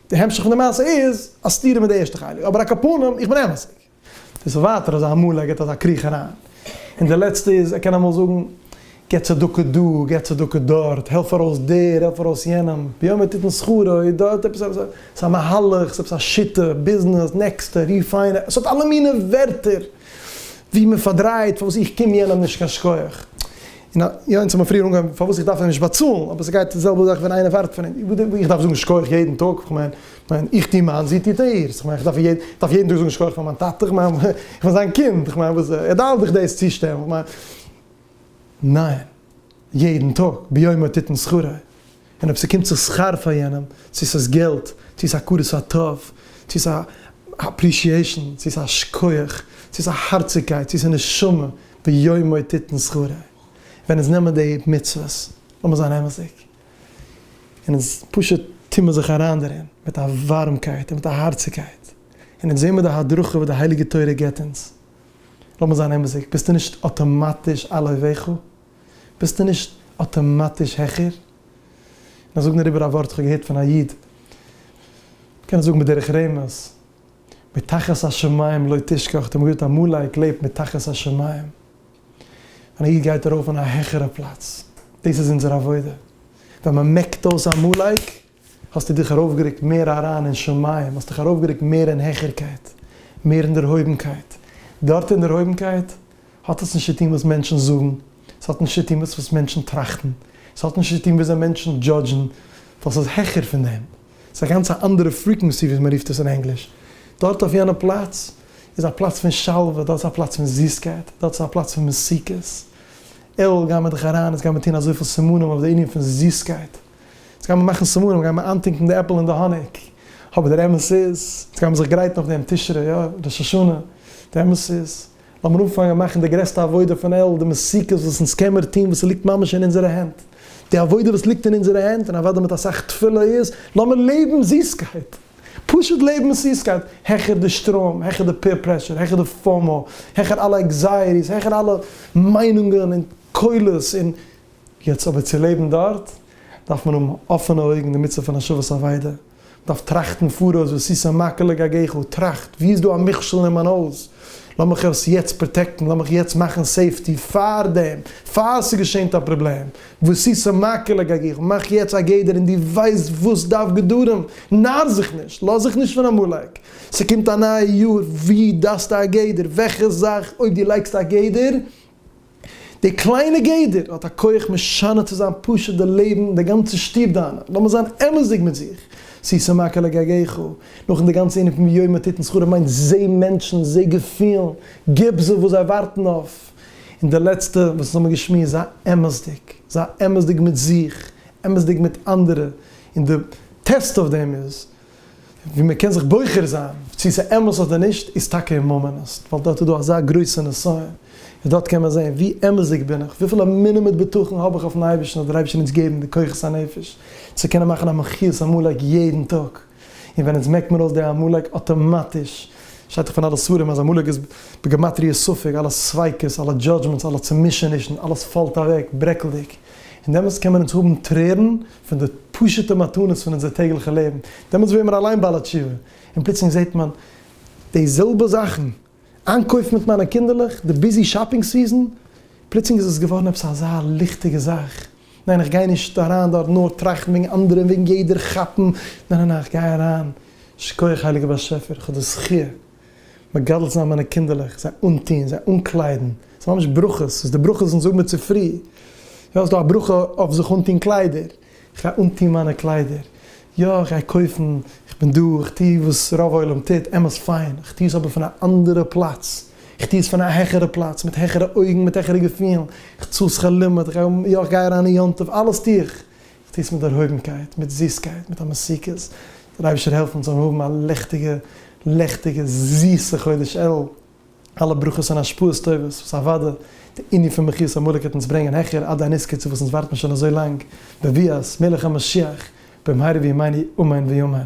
די המשך פון די מעשה איז א סתירה מיט די ערשטע חלק, אבער אקאפנים איך בין אמת'דיג. דאס איז ווייטער אזא אמאל ער גיבט אזא קריך אריין, און די לעצטע איז ער קען אמאל זאגן גיב צדקה דא גיב צדקה דארט, העלף ארויס דער העלף ארויס יענעם, ביום יתיתן שכרו, און דא האט עפעס עפעס עפעס א מהלך, עפעס א שיטה, ביזנעס, נעקסטע, ריפיינער, עס האט אלע מיני ווערטער ווי מען פארדרייט פארוואס איך קום יענעם נישט קיין שכח. און יא, אונז האמיר פריער אנגעהויבן פארוואס איך דארף אים נישט באצאלן, אבער ס'גייט די זעלבע זאך ווען איינער ווארט פון אים, וואס איך דארף זאגן שכוח יעדן טאג, כ'מיין, כ'מיין, איך טו מיינס, זי טוט אירס, כ'מיין, כ'דארף איר יעדן, דארף יעדן טאג זאגן שכוח פאר מיין טאטע, כ'מיין, כ'בין זיין קינד, כ'מיין, וואס, ער דארף דיך דאס צושטעלן, כ'מיין, ניין, יעדן טאג, ביומו תתן שכרי. און אויב ס'קומט זיך שכר פאר יענעם, צו ס'איז געלט, צו ס'איז הכרת הטוב, צו ס'איז אפרישיעישאן, צו ס'איז א שכוח, צו ס'איז א הארציגקייט, צו ס'איז נשמה, ביומו תיתן שכרה. ווען אונז נעמען די מצוות, לאמיר זיין אמת'דיג, און אונז פשוט טוהן מיר זיך אריין דערין מיט א ווארעמקייט און מיט א הארציגקייט, און אונז זעהן מיר די הדרכה וואס די הייליגע תורה גיבט אונז, לאמיר זיין אמת'דיג, ביסטו נישט אטאמאטיש א לוי' ואכול? ביסטו נישט אטאמאטיש העכער. און איך זאג נאר איבער א ווארט וואס כ'האב געהערט פון א איד, מ'קען עס זאגן בדרך רמז, מתחת השמים לא תשכח, די מגיד עמלק לעבט מתחת השמים, ווען א איד גייט ארויף אין א העכערע פלאץ, דאס איז אונזער עבודה, ווען מ'מעקט אויס עמלק, האסטו דיך ארויפגערוקט מער אריין אין שמים, האסט דיך ארויפגערוקט מער אין העכערקייט, מער אין דערהויבנקייט. דארט אין דערהויבנקייט האט עס נישט צו טון וואס מענטשן זאגן, עס האט נישט צו טון וואס מענטשן טראכטן, עס האט נישט צו טון וויאזוי מענטשן דזשאדזשן, דאס איז העכער פון דעם, עס איז א גאנץ א אנדערע פריקווענסי ווי מען רופט עס אין ענגליש. דארט אויף יענע פלאץ איז א פלאץ פון שלווה, דארט איז א פלאץ פון זיסקייט, דארט איז א פלאץ פון מתיקות. אלל גיי מיר דיך אריין, עס גיי מיר טון אזויפיל סימנים אויף די ענין פון זיסקייט. יעצט גיימער מאכן סימנים, גיימער איינטונקן די עפל אין די האניג, אבער דער אמת איז, יעצט גיימער זיך גרייטן אויף דעם תשרי, יא, ראש השנה, די אמת איז, לאמיר אנפאנגען מאכן די גרעסטע עבודה פון אלע, די מסוכות וואס אונז קעמער טון וואס ס'ליגט ממש אין אונזערע הענט, די עבודה וואס ליגט אין אונזערע הענט, און אוודאי מיט אסאך תפילה, איז, לאמיר לעבן זיסקייט! פשוט לעבן מיט זיסקייט, העכער די שטראם, העכער די פעיר פרעשור, העכער די פאומא, העכער אלע עקזייעטיס, העכער אלע מיינונגען און קולות און. יעצט אבער צו לעבן דארט דארף מען האבן אפענע אויגן די מצוה פון השבת אבידה, מען דארף טראכטן פאראויס וואס איז ס מ ק לגגעך, טראכט ווי איז דא א מכשול אין מיין הויז, לאמיך עס יעצט פראטעקטן, לאמיך יעצט מאכן סעיפטי פאר דעם, פאר ס'געשענט א פראבלעם, וואס איז ס מ ק לגגעך, מאך יעצט א גדר און דו ווייסט וואס דארף גדרים, נאר זיך נישט, לאז זיך נישט פון עמלק, ס'קומט א נייע יאר, ווי דארפסטו א גדר, וועלכע זאך אויב דו לייגסט א גדר די קליינע גדר האט א כח משנה צו זיין פשוט די לעבן, די גאנצע שטוב דיינע, לאמיר זיין אמת'דיג מיט זיך, שישה מכה לגגיך, נאכן די גאנצע ענין פון ויואל מיט תתן שכרם מיינט זע מענטשן, זע געפילן, גיב זיי וואס זיי ווארטן אויף, און די לעצטע וואס אונז האמיר געשמועסט זיי אמת'דיג, זיי אמת'דיג מיט זיך, אמת'דיג מיט אנדערע, און די טעסט אויף דעם איז. ווי מען קען זיך בוחר זיין צו ס'איז אמת אדער נישט איז טאקע אין מאמענעסט, ווייל דארט איז דא אזא גרויסע נסיון, און דארט קען מען זען ווי אמת'דיג בין איך, וויפיל אמונה מיט בטחון האב איך אויפן אייבערשטן אז דער אייבערשטער אונז געבן די כוחות הנפש צו קענען מאכן א מחיית עמלק יעדן טאג, און ווען אונז מעקט מען אויס די עמלק אטאמאטיש, שטייט דאך פון אלע ספרים אז עמלק איז בגמטריא ספק, אלע ספיקות, אלע דזשאדזשמענטס, אלע צומישענישן, אלעס פאלט אוועק ברעקלדיג, און דעמאלטס קען מען אונז האבן טרערן. פון די פשוט'ע מתנות פון אונזער טעגליכע לעבן, דעמאלטס ווערן מיר אליין בעל התשובה, און פלוצלינג זעט מען די זעלבע זאכן, איינקויפן מיט מיינע קינדערלעך, די ביזי שאפינג סיזאן, פלוצלינג איז עס געווארן עפעס אזא ליכטיגע זאך, ניין איך גיי נישט אריין דארט נאר טראכטן וועגן אנדערע און וועגן יעדער כאפן, ניין ניין ניין איך גיי אריין, שכוח הייליגער באשעפער, איך האב די זכי' מגדל זיין מיינע קינדערלעך, זיי אנטון, זיי אנקליידן, ס'איז ממש ברכות, ס'איז די ברכות אונז זאגן מיר צופרי, יא, ס'איז דא א ברכה אויף זיך אנטון קליידער, איך גיי אנטון מיינע קליידער, יא, איך גיי קויפן, איך בין דא, איך טו וואס רוב עולם טוט, אמת פיין, איך טו עס אבער פון א אנדערע פלאץ, איך טו עס פון א העכערע פלאץ, מיט העכערע אויגן, מיט העכערע געפילן, איך צאל שכר לימוד, איך גיי, יא, איך גיי אריין אין יום טוב, אלעס טו איך, טוט עס מיט דערהויבנקייט, מיט זיסקייט, מיט א מסיקות, דער אייבערשטער העלפט אונז זאלן האבן א ליכטיגע, לעכטיגע, זיסע חודש אלול, אלע ברכות און השפעות טובות וואס אוודאי די ענין פון מחיית עמלק וועט אונז ברענגען העכער עד הניס קצה וואס אונז ווארטן שוין אזוי לאנג, בביאת מלך המשיח במהרה בימינו אמן ויאמן.